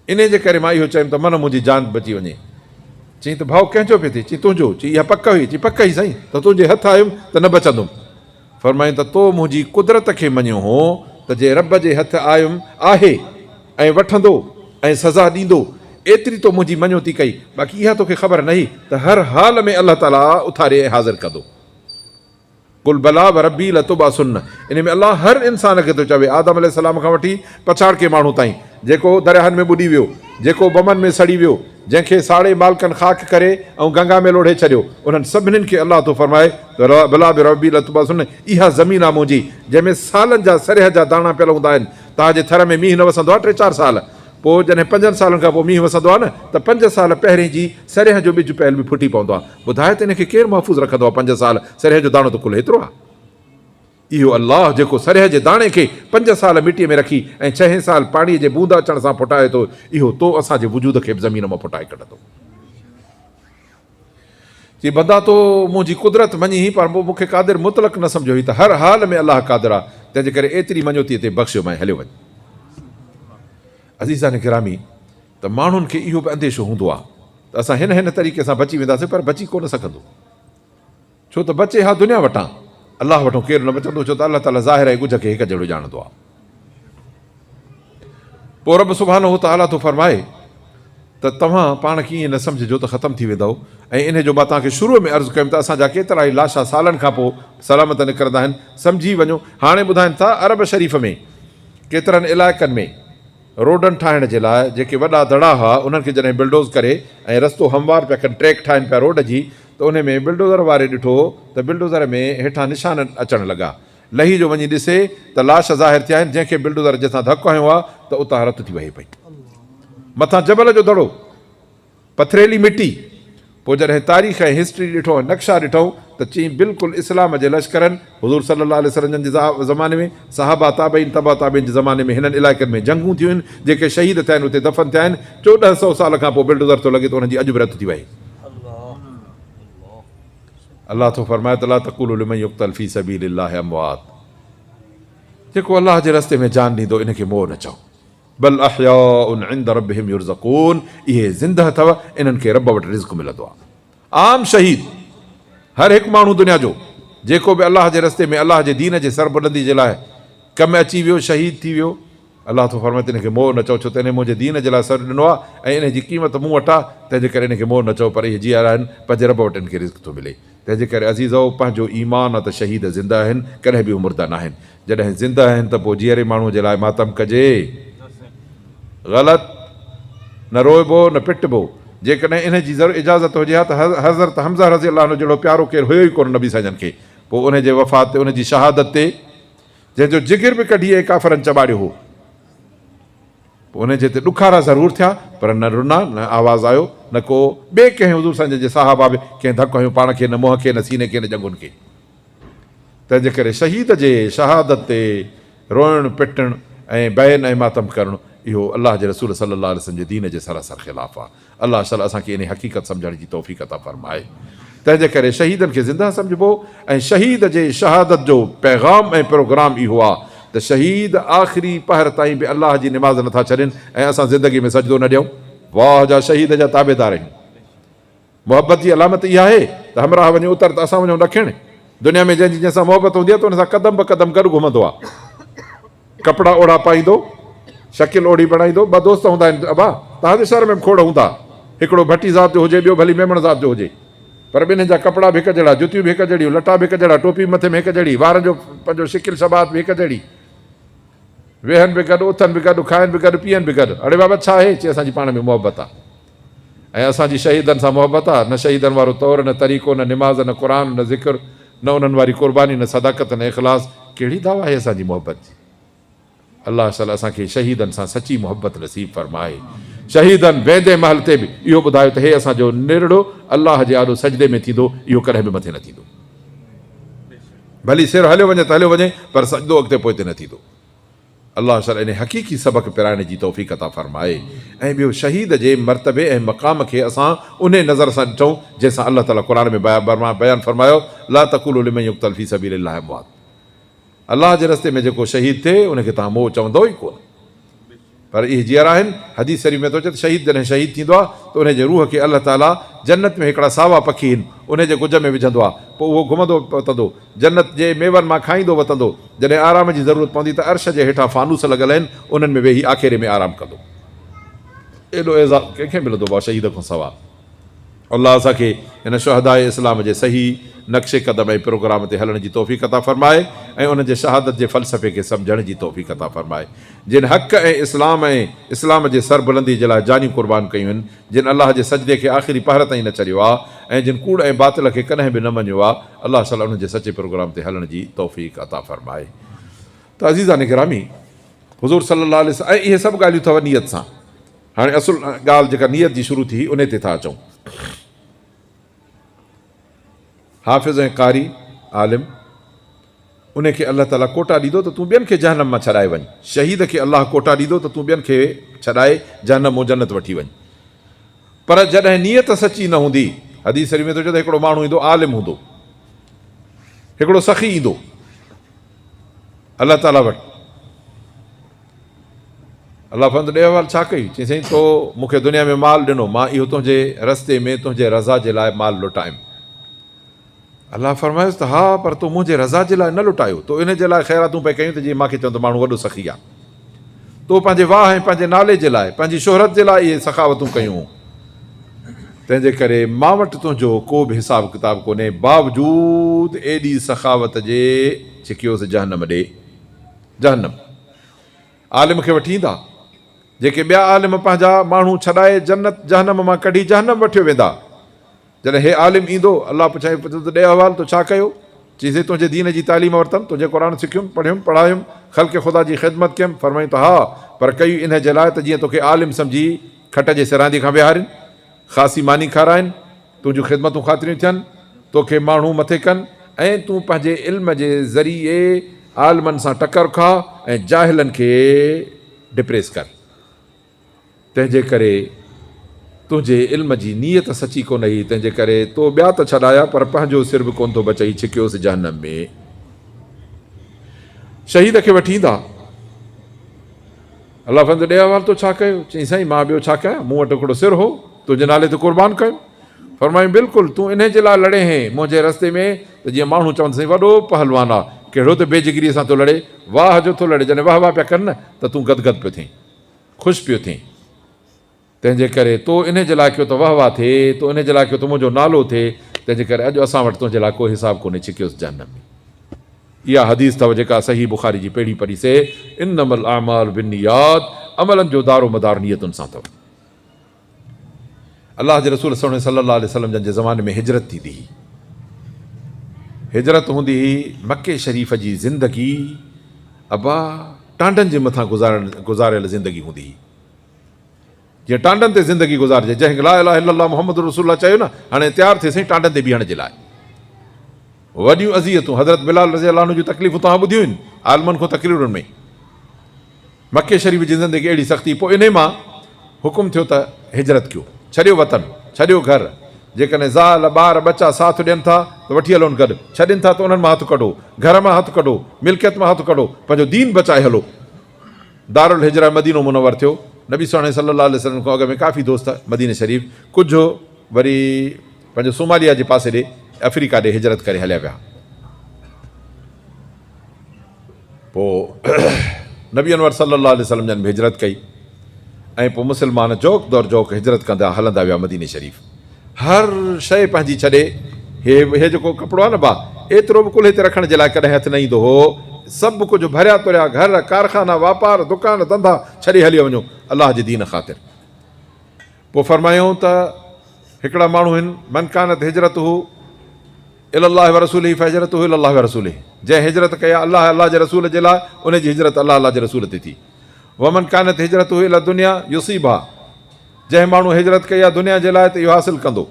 انهي جي ڪري مان اهو چيم ته من منهنجي جان بچي وڃي. چئين ته ڀؤ ڪنهن جو پئي ٿئي؟ چئين تنهنجو. چئين اها پڪ هئي؟ چئين پڪ هئي سائين، ته تنهنجي هٿ آيم ته نه بچندم. فرمائين ته تو منهنجي قدرت کي مڃيو هو ته جي رب جي هٿ آيم آهي ۽ وٺندو ۽ سزا ڏيندو ايتري تو منهنجي مڃوتي ڪئي باقي اها توکي خبر نهي ته هر حال ۾ الله تعاليٰ اٿاري ۽ حاضر ڪندو قل بليٰ وربي لتبعثن انهي ۾ الله هر انسان کي ٿو چوي آدم عليه السلام کان وٺي پڇاڙ ڪي ماڻهو تائين جيڪو درياهن ۾ ٻڏي ويو جيڪو بمن ۾ سڙي ويو جنهن کي ساڙي مالڪن خاڪ ڪري ۽ گنگا ۾ لوڙهي ڇڏيو انهن سڀني کي الله ٿو فرمائي بلا به ربي لتباسن اها زمين آ منهنجي جنهن ۾ سالن جا سرهه جا داڻا پيل هوندا آهن تان جي ٿر ۾ مينهن نه وسندو آ ٽي چار سال پو جڏهن پنجن سالن کان پو مينهن وسندو آ نه ته پنج سال پهرين جي سرهه جو ٻج پيل به ڦٽي پوندو آ ٻڌاء ته ان کي ڪير محفوظ رکندو آ پنج سال سرهه جو داڻو ته ڪل هيترو آ اهو الله جيڪو سرهه جي داڻي کي پنج سال مٽي ۾ رکي ۽ ڇهين سال پاڻي جي بوند اچڻ سان ڦٽائي ٿو اهو تو اسان جي وجود کي به زمين مان ڦٽائي ڪڍندو. چي بندا تو منهنجي قدرت مڃين پر مون کي قادر مطلق نه سمجهيو هئي ته هر حال ۾ الله قادر آ تنهن جي ڪري ايتري مڃوتي تي بخشيو مانء هليو وڃ. عزيزان گرامي ته ماڻهن کي اهو به انديشو هوندو آ ته اسان هن هن طريقي سان بچي وينداسين پر بچي ڪونه سگهندو. ڇو ته بچي ها دنيا وٽان، الله وٽون ڪير نه بچندو، ڇو ته الله تعاليٰ ظاهر ۽ ڳجهه کي هڪ جهڙو ڄاڻندو آهي. پوء رب سبحانه وتعاليٰ ٿو فرمائي ته توهان پاڻ کي ائين نه سمجهجو ته ختم ٿي ويندؤ ۽ انهي جو مان توهان کي شروع ۾ عرض ڪيم ته اسان جا ڪيترائي لاشا سالن کان پوء سلامت نڪرندا آهن، سمجهي وڃو، هاڻي ٻڌائين ٿا عرب شريف ۾ ڪيترن علائقن ۾. روڊن ٺاهڻ جي لاء جيڪي وڏا دڙا هئا انهن کي جڏهن بلڊوز ڪري ۽ رستو هموار پيا ڪن ٽريڪ ٺاهين پيا روڊ جي ته انهي ۾ بلڊوزر واري ڏٺو ته بلڊوزر ۾ هيٺان نشان اچڻ لڳا لهي جو وڃي ڏسي ته لاش ظاهر ٿيا آهن جنهن کي بلڊوزر جتان ڌڪ هنيو آهي ته اتان رت ٿي وهي پئي مٿان جبل جو دڙو پٿريلي مٽي، پوء جڏهن تاريخ ۽ هسٽري ڏٺو ۽ نقشا ڏٺئون ته چيئين بلڪل اسلام جي لشڪرن حضور صلي الله عليه وسلم جي زماني ۾ صحابه تابعين تبع تابعين جي زماني ۾ هنن علائقن ۾ جنگون ٿيون هين جيڪي شهيد ٿيا هين اتي دفن ٿيا هين چوڏهن سئو سال کان پوء بلڊوزر ٿو لڳي ته انهن جي اڄ به رٿ ٿي وهي الله ٿو فرمائي ته لا تقولو لمن يقتل في سبيل الله اموات جيڪو الله جي رستي ۾ جان ڏيندو ان کي مئو نه چئو. بل احياء عند ربهم يرزقون اهي زنده اٿو انهن کي رب وٽ رزق ملندو آهي عام شهيد هر هڪ ماڻهو دنيا جو جيڪو به الله جي رستي ۾ الله جي دين جي سربلندي جي لاء ڪم ۾ اچي ويو شهيد ٿي ويو الله ٿو فرمائي ته ان کي مئو نه چئو ڇو ته انهي منهنجي دين جي لاء سر ڏنو آهي ۽ انهي جي قيمت مون وٽ آهي تنهن جي ڪري ان کي مئو نه چئو پر اهي جيئرا آهن پنهنجي رب وٽ ان کي رزق ٿو ملي تنهن جي ڪري عزيزؤ پنهنجو ايمان آهي ته شهيد زنده آهن ڪڏهن به اهي مرده ناهن جڏهن زنده آهن ته پوء جيئري ماڻهوء جي لاء ماتم ڪجي؟ غلط، نه روئبو نه پٽبو. جيڪڏهن انهي جي اجازت هجي ها ته حضرت حمزه رضي الله عنه جهڙو پيارو ڪير هيو ئي ڪونه نبي سائين جن کي، پوء انهي جي وفات تي انهي جي شهادت تي جنهن جو جگر به ڪڍي ۽ ڪافرن چٻاڙيو هو، پوء انهي جي تي ڏکارا ضرور ٿيا پر نه رنا، نه آواز آيو، نه ڪو ٻئي ڪنهن حضور سائين جن جي صحابه به ڪنهن ڌڪ هنيو پاڻ کي نه منهن کي نه سيني کي نه ڄنگهن کي. تنهنجي ڪري شهيد جي شهادت تي روئڻ پٽڻ ۽ بين ۽ ماتم ڪرڻ اهو الله جي رسول صلي الله عليه وسلم جي دين جي سراسر خلاف آ. الله شل اسان کي انهي حقيقت سمجهڻ جي توفيق عطا فرمائي. تنهنجي ڪري شهيدن کي زنده سمجهبو ۽ شهيد جي شهادت جو پيغام ۽ پروگرام اهو آ ته شهيد آخري پهر تائين به الله جي نماز نٿا ڇڏين ۽ اسان زندگي ۾ سجدو نه ڏيون. واهه جا شهيد جا تابعدار آهيون. محبت جي علامت اها آهي ته همراهه وڃي اتر ته اسان وڃون ڏکڻ. دنيا ۾ جنهن جي جنهن سان محبت هوندي آهي ته ان سان قدم به قدم گڏ گهمندو آهي. ڪپڙا اوڙا پائيندو، شڪل اوڙي بڻائيندو. ٻه دوست هوندا آهن ابا، توهان جي شهر ۾ به کوڙ هوندا. هڪڙو ڀٽي ذات جو هجي، ٻيو ڀلي ميمڻ ذات جو هجي. پر ٻنهين جا ڪپڙا به هڪ جهڙا، جتيون به هڪ جهڙيون، لٽا به هڪ جهڙا، ٽوپي به مٿي ۾ هڪ جهڙي، وارن جو پنجو، شڪل شباهت به هڪ جهڙي. ويهن به گڏ، اٿن به گڏ، کائن به گڏ، پيئن به گڏ. اڙي بابا ڇا آهي؟ چي اسان جي پاڻ ۾ محبت آهي. ۽ اسان جي شهيدن سان محبت آ، نه شهيدن وارو طور، نه طريقو، نه نماز، نه قرآن، نه ذڪر، نه انهن واري قرباني، نه صداقت، نه اخلاص، ڪهڙي دعويٰ آهي اسان جي محبت جي؟ الله شل اسان کي شهيدن سان سچي محبت نصيب فرمائي. شهيدن ويندي مهل تي به اهو ٻڌايو ته هي اسان جو نرڙو الله جي آڏو سجدي ۾ ٿيندو، اهو ڪڏهن به مٿي نه ٿيندو. ڀلي سر هليو وڃي ته هليو وڃي پر سجدو اڳتي پوئتي نه ٿيندو. الله سر انهي حقيقي سبق پرائڻ جي توفيق عطا فرمائي ۽ ٻيو شهيد جي مرتبي ۽ مقام کي اسان انهي نظر سان ڏٺون جنهن سان الله تعالي قرآن ۾ بيان فرمايو لا تقولو لمن يقتل في سبيل الله اموات الله جي رستي ۾ جيڪو شهيد ٿئي ان کي توهان مئو چوندؤ ئي ڪونه پر اهي جيئرا آهن حديث شريف ۾ ٿو اچي ته شهيد جڏهن شهيد ٿيندو آهي ته انهي جي روح کي الله تعالي جنت ۾ هڪڙا ساوا پکي هن انهي جي ڳجهه ۾ وجهندو آهي پوء اهو گهمندو پتندو جنت جي ميون مان کائيندو وتندو. جڏهن آرام جي ضرورت پوندي ته عرش جي هيٺان فانوس لڳل آهن، انهن ۾ ويهي آکيري ۾ آرام ڪندو. ايڏو اعزاز ڪنهن کي ملندو ڀاء شهيد کان سوا. الله اسان کي هن شهداء اسلام جي صحيح نقش قدم ۽ پروگرام تي هلڻ جي توفيق عطا فرمائي ۽ انهن جي شهادت جي فلسفي کي سمجهڻ جي توفيق عطا فرمائي. جن حق ۽ اسلام ۽ اسلام جي سربلندي جي لاء جانيون قربان ڪيون آهن، جن الله جي سجدي کي آخري پهر تائين نه ڇڏيو آ ۽ جن ڪوڙ ۽ باطل کي ڪڏهن به نه مڃيو آ الله تعالي انهن جي سچي پروگرام تي هلڻ جي توفيق عطا فرمائي ته عزيزان گرامي حضور صلي الله عليه وسلم ۽ اهي سڀ ڳالهيون ٿو نيت سان هاڻي اصل ڳالهه جيڪا نيت جي شروع ٿي هئي انهي تي ٿا اچون. حافظ ۽ قاري، عالم، انهي کي الله تعاليٰ ڪوٽا ڏيندو ته تون ٻين کي جهنم مان ڇڏائي وڃ، شهيد کي الله ڪوٽا ڏيندو ته تون ٻين کي ڇڏائي جهنم مون جنت وٺي وڃ. پر جڏهن نيت سچي نه هوندي، حديث شريف ۾ ٿو اچي ته هڪڙو ماڻهو ايندو عالم هوندو، هڪڙو سخي ايندو الله تعاليٰ وٽ، الله فرمائن ٿو ڏيهه وار ڇا ڪئي؟ چئي سائين تو مون کي دنيا ۾ مال ڏنو مان اهو تنهنجي رستي ۾ تنهنجي رضا جي لاء مال لٽايم. الله فرمايس ته ها پر تو منهنجي رضا جي لاء نه لٽايو تو ان جي لاء خيراتون پئي ڪيون ته جي مان کي چون ته ماڻهو وڏو سخي آ. تو پنهنجي واهه ۽ پنهنجي نالي جي لاء پنهنجي شهرت جي لاء اهي سخاوتون ڪيون. تنهن جي ڪري مان وٽ تنهنجو ڪو به حساب ڪتاب ڪونهي باوجود ايڏي سخاوت جي ڇڪيوس جهنم ڏي. جهنم عالم کي وٺي ايندا، جيڪي ٻيا عالم پنهنجا ماڻهو ڇڏائي جنت جهنم مان ڪڍي جهنم وٺيو ويندا. جڏهن هي عالم ايندو، الله پڇائين پڇندو ته ڏي احوال تو ڇا ڪيو؟ چئينسين تنهنجي دين جي تعليم ورتم، تنهنجي قرآن سکيم، پڙهيم، پڙهايم، خلق خدا جي خدمت ڪيم، فرمائين ته ها پر ڪئي انهيء جي لاء ته جيئن توکي عالم سمجهي کٽ جي سراندي کان ويهارين، خاصي ماني کارائين، تنهنجون خدمتون خاطريون ٿين، توکي ماڻهو مٿي ڪن ۽ تون پنهنجي علم جي ذريعي عالمن سان ٽڪر کاء ۽ جاهلن کي ڊپريس ڪر. تنهنجي ڪري تنهنجي علم جي نيت سچي ڪونه هئي، تنهنجي ڪري تو ٻيا ته ڇڏايا پر پنهنجو سر به ڪونه ٿو بچئي، ڇڪيوس جهنم ۾. شهيد کي وٺي ايندا. الله فرمايو ته ڏي احوال تو ڇا ڪيو؟ چيائين سائين مان ٻيو ڇا ڪيان مون وٽ هڪڙو سر هو تنهنجي نالي تي قربان ڪيم. فرمايائون بلڪل تون انهي جي لاء لڙين هين منهنجي رستي ۾ ته جيئن ماڻهو چون ته سائين وڏو پهلوان آ ڪهڙو ته بي جگري سان ٿو لڙي واهه جو ٿو لڙي جڏهن واهه واهه پيا ڪن نه ته تون گد گد پيو ٿين خوش پيو ٿين. تنهن جي ڪري تو انهي جي لاء ڪيو ته واه واه ٿئي، تو انهي جي لاء ڪيو ته منهنجو نالو ٿئي، تنهن جي ڪري اڄ اسان وٽ تنهنجي لاء ڪو حساب ڪونهي ڇڪيوس جهنم ۾. اها حديث اٿو جيڪا صحيح بخاري جي پهرين پري سي انما الاعمال بالنيات عملن جو دار و مدار نيتن سان اٿو. الله جي رسول سهڻي صلي الله عليه وسلم جن جي زماني ۾ هجرت ٿيندي هي هجرت هوندي هي مڪي شريف جي زندگي ابا ٽانڊن جي مٿان گذارڻ گذاريل زندگي هوندي هي. جيئن ٽانڊن تي زندگي گذارجي جنهن لا اله الا الله محمد رسول الله چيو نه هاڻي تيار ٿي سائين ٽانڊن تي بيهڻ جي لاء وڏيون اذيتون حضرت بلال رضي الله عنه جون تڪليفون توهان ٻڌيون آهن عالمن کون تقريرن ۾ مڪي شريف جي زندگي اهڙي سختي پوء انهي مان حڪم ٿيو ته هجرت ڪيو ڇڏيو وطن ڇڏيو گهر جيڪڏهن زال ٻار ٻچا ساٿ ڏين ٿا ته وٺي هلون گڏ ڇڏين ٿا ته انهن مان هٿ ڪڍو گهر مان هٿ ڪڍو ملڪيت مان هٿ ڪڍو پنهنجو دين بچائي هلو دارالهجره مدينو منور ٿيو، نبي سهڻي صلي الله عليه وسلم کان اڳ ۾ ڪافي دوست مديني شريف، ڪجهه وري پنهنجو صوماليا جي پاسي ڏي، افريڪا ڏي هجرت ڪري هليا ويا. پوء نبي انور صلي الله عليه وسلم جن به هجرت ڪئي ۽ پوء مسلمان جوڪ در جوڪ هجرت ڪندا هلندا ويا مديني شريف. هر شيء پنهنجي ڇڏي، هي هي جيڪو ڪپڙو آهي نه ڀاء، ايترو به ڪلهي تي رکڻ جي لاء ڪڏهن هٿ نه ايندو هو. سڀ ڪجهه ڀريا تريا گهر، ڪارخانا، واپار، دڪان، ڌنڌا ڇڏي هليو وڃو، الله جي دين خاطر. پوء فرمايائون ته هڪڙا ماڻهو هن، من ڪانت هجرته الي الله ورسوله فهجرته الي الله ورسوله، جنهن هجرت ڪئي آهي الله ۽ الله جي رسول جي لاء، ان جي هجرت الله الله جي رسول تي ٿي. ومن ڪانت هجرته الي الدنيا يصيبها. جنهن ماڻهو هجرت ڪئي آهي دنيا جي لاء ته اهو حاصل ڪندو.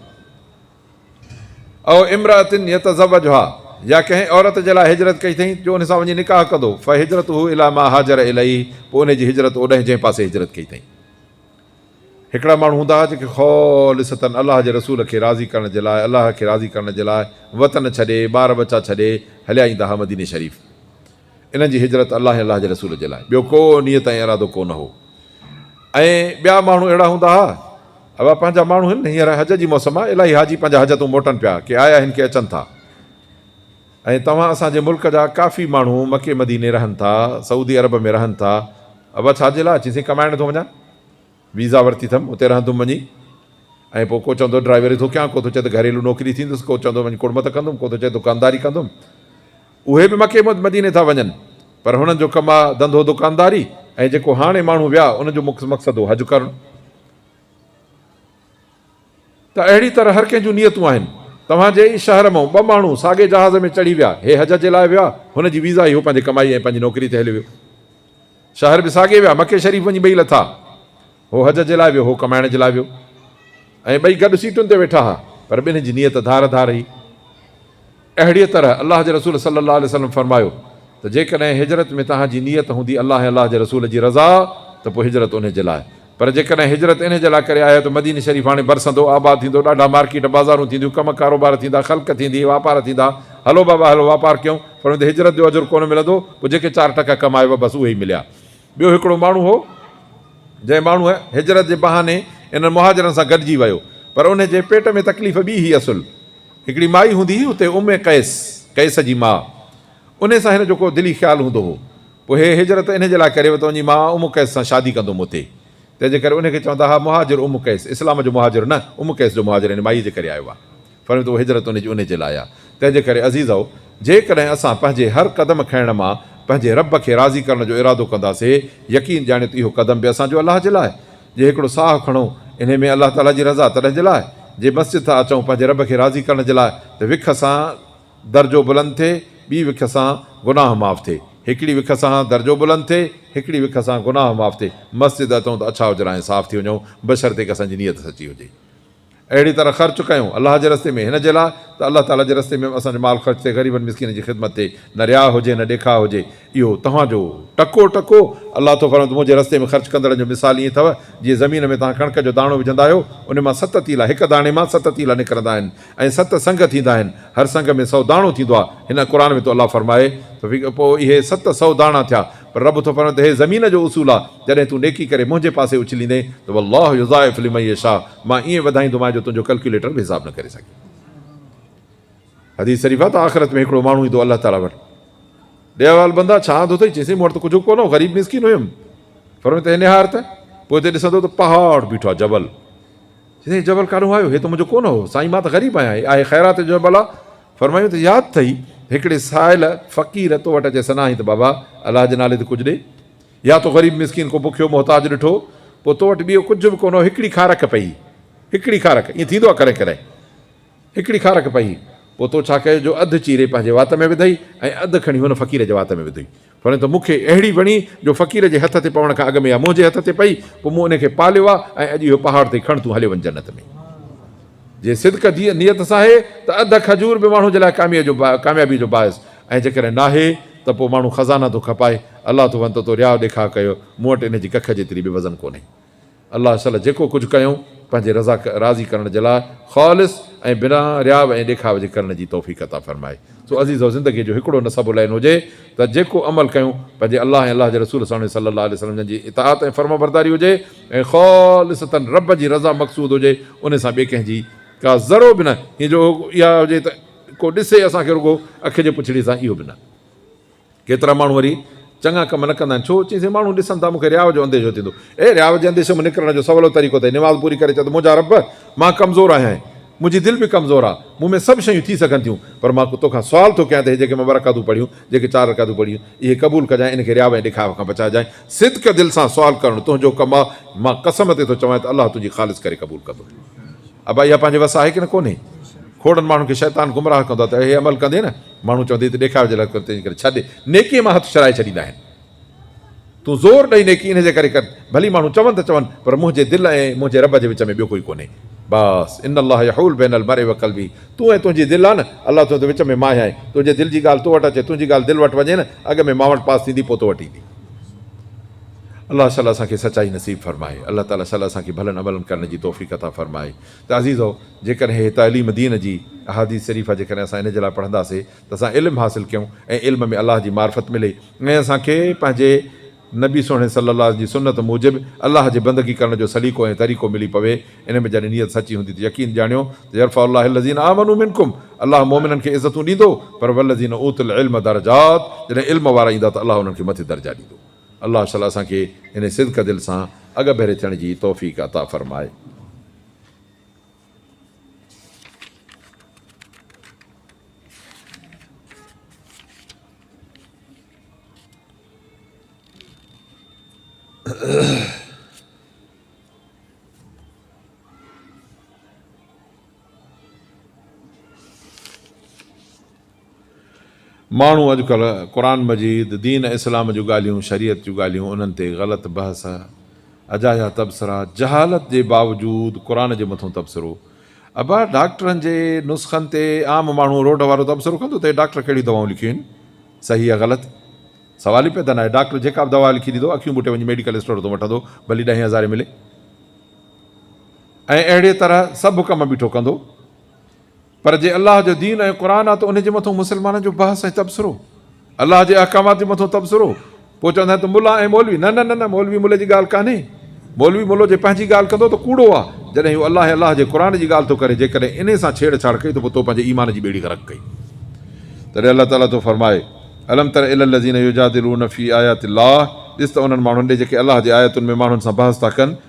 او امرأة يتزوجها يا ڪنهن عورت جي لاء هجرت ڪئي اٿئي جو ان سان وڃي نڪاح ڪندو فهجرته الي ما هاجر اليه پوء ان جي هجرت اوڏانهن جنهن پاسي هجرت ڪئي اٿئي. هڪڙا ماڻهو هوندا هئا جيڪي خالصة الله جي رسول کي راضي ڪرڻ جي لاء الله کي راضي ڪرڻ جي لاء وطن ڇڏي ٻار ٻچا ڇڏي هليا ايندا هئا مديني شريف انهن جي هجرت الله ۽ الله جي رسول جي لاء ٻيو ڪو نيت ۽ ارادو ڪو نه هو ۽ ٻيا ماڻهو اهڙا هوندا ها اهي پنهنجا ماڻهو هن هينئر حج جي موسم آ الاهي حاجي پنهنجا حج تون موٽن پيا ڪي آيا هن ڪي اچن ٿا ۽ توهان اسان جي ملڪ جا ڪافي ماڻهو مڪي مديني رهن ٿا سعودي عرب ۾ رهن ٿا اهي ڇا جي لاء چين سائين ڪمائڻ ٿو وڃان ويزا ورتي ٿم اتي رهندم وڃي ۽ پوء ڪو چوندو ڊرائيوري ٿو ڪيان ڪو ٿو چئي ته گهريلو نوڪري ٿيندس ڪو چوندو وڃي ڪڙمت ڪندم ڪو ٿو چئي دڪانداري ڪندم اهي به مڪي مديني ٿا وڃن پر هنن جو ڪم آ ڌنڌو دڪانداري ۽ جيڪو هاڻي ماڻهو ويا ان جو مقصد هو حج ڪرڻ ته اهڙي طرح هر ڪنهن جون نيتون آهن توهان جي ئي شهر مئون ٻه ماڻهو ساڳي جهاز ۾ چڙهي ويا هي حج جي لاء ويا هن جي ويزا اهو پنهنجي ڪمائي ۽ پنهنجي نوڪري تي هليو ويو شهر به ساڳي ويا مڪي شريف وڃي ٻئي لٿا هو حج جي لاء ويو، هو ڪمائڻ جي لاء ويو ۽ ٻئي گڏ سيٽن تي ويٺا ها، پر ٻنهي جي نيت ڌار ڌار هئي. اهڙيء طرح الله جي رسول صلّي اللّٰه عليه وسلّم فرمايو ته جيڪڏهن هجرت ۾ توهان جي نيت هوندي الله ۽ الله جي رسول جي رضا ته پوء هجرت انهي جي لاء، پر جيڪڏهن هجرت انهي جي لاء ڪري آهيو ته مديني شريف هاڻي برسندو، آباد ٿيندو، ڏاڍا مارڪيٽ، بازارون ٿينديون، ڪم ڪاروبار ٿيندا، خلق ٿيندي، واپار ٿيندا، هلو بابا هلو واپار ڪيون، پر ان تي هجرت جو اجر ڪونه ملندو، پوء جيڪي چار ٽڪا ڪمايو ها بس اهي ئي مليا. ٻيو هڪڙو ماڻهو هو، جنهن ماڻهوء هجرت جي بهاني انهن مهاجرن سان گڏجي ويو، پر انهيء جي پيٽ ۾ تڪليف ٻي هئي اصل هڪڙي مائي هوندي هئي اتي ام قيس، قيس جي ماء، انهيء سان هن جو ڪو دلي خيال هوندو هو، پوء هي هجرت انهيء جي لاء ڪري ويو ته وڃي مان ام قيس سان شادي ڪندوم اتي، تنهنجي ڪري انهيء کي چوندا ها مهاجر ام قيس، اسلام جو مهاجر نه، ام قيس جو مهاجر يعني مائيء جي ڪري آيو آهي. فرمايو ته اهو هجرت ان جي انهي جي لاء آهي. تنهن جي ڪري عزيزؤ! جيڪڏهن اسان پنهنجي هر قدم کڻڻ مان پنهنجي رب کي راضي ڪرڻ جو ارادو ڪنداسين، يقين ڄاڻيو ته اهو قدم به اسان جو الله جي لاء آهي. جي هڪڙو ساهه کڻون، انهي ۾ الله تعاليٰ جي رضا تڏهن جي لاء آهي. جي مسجد ٿا اچون پنهنجي رب کي راضي ڪرڻ جي لاء ته وک سان درجو بلند ٿئي، ٻي وک سان گناهه معاف ٿئي. هڪڙي وک سان درجو بلند ٿئي، هڪڙي وک سان گناهه معاف ٿئي. مسجد اچون ته اڇا اجرا ۽ صاف ٿي وڃون، بشرطيڪ اسان جي نيت سچي هجي. اهڙي طرح خرچ ڪيون الله جي رستي ۾ هن جي لاء ته الله تعالي جي رستي ۾ به اسان جو مال خرچ ٿئي غريبن مسڪينن جي خدمت ٿئي نه رياء هجي نه ڏيکاء هجي اهو توهان جو ٽڪو ٽڪو الله ٿو فرمائي ته منهنجي رستي ۾ خرچ ڪندڙن جو مثال ائين اٿئو جيئن زمين ۾ توهان ڪڻڪ جو داڻو وجهندا آهيو ان مان ست تيلا هڪ داڻي مان ست تيلا نڪرندا آهن ۽ ست سنگ ٿيندا آهن هر سنگ ۾ سئو داڻو ٿيندو آهي هن قرآن ۾ ٿو الله فرمائي ته پوء اهي ست سئو داڻا ٿيا پر رب ٿو فرمائي ته هي زمين جو اصول آ جڏهن تون نيڪي ڪري منهنجي پاسي اڇليندين ته والله يضاعف لمن يشاء مان ائين وڌائيندومانء جو تنهنجو ڪلڪيوليٽر به حساب نه ڪري سگهي. حديث شريف آ ته آخرت ۾ هڪڙو ماڻهو ايندو الله تعالي وٽ ڏي احوال بندا ڇا آندو اٿئي چئي سائين مون وٽ ته ڪجهه به ڪونه هو غريب مسڪين هيم فرمائي ته هي نهار ته پوء هتي ڏسندو ته پهاڙ بيٺو آ جبل چيائين هي جبل ڪاڏهون آيو؟ هي ته منهنجو ڪونه هو. سائين مان ته غريب آهيان. هي آهي خيرات جو جبل. فرمايون ته ياد اٿئي هڪڙي سائل فقير تو وٽ اچي سنائين ته بابا الله جي نالي تي ڪجهه ڏي. يا تو غريب مسڪين ڪو بکيو محتاج ڏٺو. پوء تو وٽ ٻيو ڪجهه به ڪونه هو هڪڙي کارڪ پئي. هڪڙي کارڪ. ائين ٿيندو آهي ڪڏهن ڪڏهن. هڪڙي کارڪ پئي. پوء تو ڇا ڪيو جو اڌ چيري پنهنجي وات ۾ وڌئي ۽ اڌ کڻي هن فقير جي وات ۾ وڌئي. وڻي ته مون کي اهڙي وڻي جو فقير جي هٿ تي پوڻ کان اڳ ۾ اها منهنجي هٿ تي پئي پوء مون ان کي پاليو آ ۽ اڄ اهو پهاڙ تي کڻ تون هليو وڃ جنت ۾ جي صدق جي نيت سان آهي ته اڌ کجور به ماڻهو جي لاء ڪاميابي جو باعث ۽ جيڪڏهن ناهي ته پوء ماڻهو خزانا ٿو کپائي الله ٿو ون ته تو رياء ڏيکاء ڪيو مون وٽ ان جي ڪک جيتري به وزن ڪونهي. الله صلّي جيڪو ڪجهه ڪيون پنهنجي رضا راضي ڪرڻ جي لاء خالص ۽ بنا رياء ۽ ڏيکاوي جي ڪرڻ جي توفيق عطا فرمائي سو عزيزو زندگي جو هڪڙو نه سبو لائين هجي ته جيڪو عمل ڪيون پنهنجي الله ۽ الله جي رسول ساڻي صلّي الله عليه وسلّم جن جي اطاعت ۽ فرمانبرداري هجي ۽ خالصتاً ربّ جي رضا مقصود هجي انهي سان ٻي ڪنهن جي ڪا ذرو به نه هين جو اها هجي ته ڪو ڏسي اسان کي رڳو اک جي پڇڙي سان اهو به نه. ڪيترا ماڻهو وري چڱا ڪم نه ڪندا آهن. ڇو؟ چيائينسي، ماڻهو ڏسن ٿا مون کي رياء جو انديشو ٿيندو اهي رياء جي انديشي مان نڪرڻ جو سولو طريقو اٿئي نماز پوري ڪري چئه ته منهنجا رب! مان ڪمزور آهيان منهنجي دل به ڪمزور آ مون ۾ سڀ شيون ٿي سگهن ٿيون پر مان ڪو توکان سوال ٿو ڪيان ته اهي جيڪي مان ٻه رڪعتون پڙهيون جيڪي چار رڪعتون پڙهيون اهي قبول ڪجانء ان کي رياء ۽ ڏيکاوي کان بچائجانء صدق دل سان سوال ڪرڻ تنهنجو ڪم آ مان قسم تي ٿو چوانء ته الله تنهنجي خالص ڪري قبول ڪندو ابا اها پنهنجي وس آهي ڪنه ڪونهي کوڙن ماڻهن کي شيطان گمراهه ڪندو آ ته اهي عمل ڪندين ماڻهو چوندي ته ڏيکاوي جي لاء ڪريو تنهنجي ڪري ڇڏ نيڪي مان هٿ ڇڏائي ڇڏيندا آهن تون زور ڏئي نيڪي انهي جي ڪري ڪر ڀلي ماڻهو چون ته چون پر منهنجي دل ۽ منهنجي رب جي وچ ۾ ٻيو ڪوئي ڪونهي بس ان الله يحول بين المرء وقلبه تون ۽ تنهنجي دل آ نه الله تنهنجي وچ ۾ ماهي آهي تنهنجي دل جي ڳالهه تو وٽ اچي تنهنجي ڳالهه دل وٽ وڃي نه اڳ ۾ مان وٽ پاس ٿيندي پوء تو وٽ ايندي الله شل اسان کي سچائي نصيب فرمائي الله تعالي شل اسان کي ڀلن عملن ڪرڻ جي توفيق عطا فرمائي ته عزيزؤ! جيڪڏهن هيء تعليم دين جي، احاديث شريفه، جيڪڏهن اسان ان جي لاء پڙهندا سي ته اسان علم حاصل ڪيون ۽ علم ۾ الله جي معرفت ملي ۽ اسان کي پنهنجي نبي سهڻي صلّي الله جي سنّت موجب الله جي بندگي ڪرڻ جو سليقو ۽ طريقو ملي پوي، ان ۾ جڏهن نيت سچي هوندي ته يقين ڄاڻيو ته يرفع الله الذين آمنوا منڪم الله مؤمنن کي عزتون ڏيندو پر والذين اوتوا العلم درجات جڏهن علم وارا ايندا ته الله انهن کي مٿي درجا ڏيندو. الله تعالي اسان کي انهي صدقه دل سان اڳڀري ٿيڻ جي توفيق عطا فرمائي. ماڻهو اڄڪلهه قرآن مجيد، دين اسلام جون ڳالهيون، شريعت جون ڳالهيون انهن تي غلط بحث، اجايا تبصرا، جهالت جي باوجود قرآن جي مٿون تبصرو. ابا ڊاڪٽرن جي نسخن تي عام ماڻهو روڊ وارو تبصرو ڪندو ته هي ڊاڪٽر ڪهڙيون دوائون لکيون آهن صحيح يا غلط؟ سوال ئي پيدا ناهي ڊاڪٽر جيڪا به دوا لکي ڏيندو اکيون ٻوٽي وڃي ميڊيڪل اسٽور تون وٺندو ڀلي ڏهين هزارين ملي. ۽ اهڙيء طرح سڀ ڪم بيٺو ڪندو، پر جي الله جو دين ۽ قرآن آ ته ان جي مٿون مسلمانن جو بحث ۽ تبصرو، الله جي احڪامات جي مٿون تبصرو، پوء چوندا آهن ته ملا ۽ مولوي، نه نه نه نه مولوي ملي جي ڳالهه ڪانهي، مولوي ملو جي پنهنجي ڳالهه ڪندو ته ڪوڙو آ، جڏهن هو الله ۽ الله جي قرآن جي ڳالهه ٿو ڪري جيڪڏهن انهي سان ڇيڙ ڇاڙ ڪئي ته پوء تو پنهنجي ايمان جي ٻيڙي غرق ڪئي تڏهن الله تعاليٰ ٿو فرمائي الم تر الي الذين يجادلون في آيات الله ڏس ته انهن ماڻهن ڏي جيڪي الله جي آيتن ۾ ماڻهن سان بحث ٿا ڪن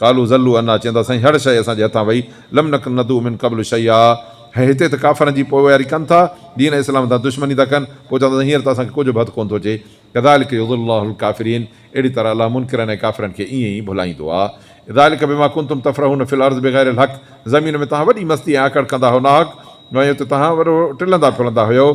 قالوا ضلوا عنا چين ٿا سائين هڙ شيء اسان جي هٿان وئي لم نڪن ندعو من قبل شيئا ۽ هتي ته ڪافرن جي پوئواري ڪن ٿا دين اسلام سان دشمني ٿا ڪن پوء چون ٿا ته هينئر ته اسان کي ڪجهه به هٿ ڪونه ٿو اچي ڪذلڪ يضل الله الڪافرين اهڙي طرح الله منڪرن ۽ ڪافرن کي ائين ئي ڀلائيندو آهي ذلڪ بما ڪنتم تفرحون في الارض بغير الحق زمين ۾ توهان وڏي مستي ۽ آڪڙ ڪندا هئو ناحق ۽ اتي توهان وڏو ٽلندا ڦرندا هيؤ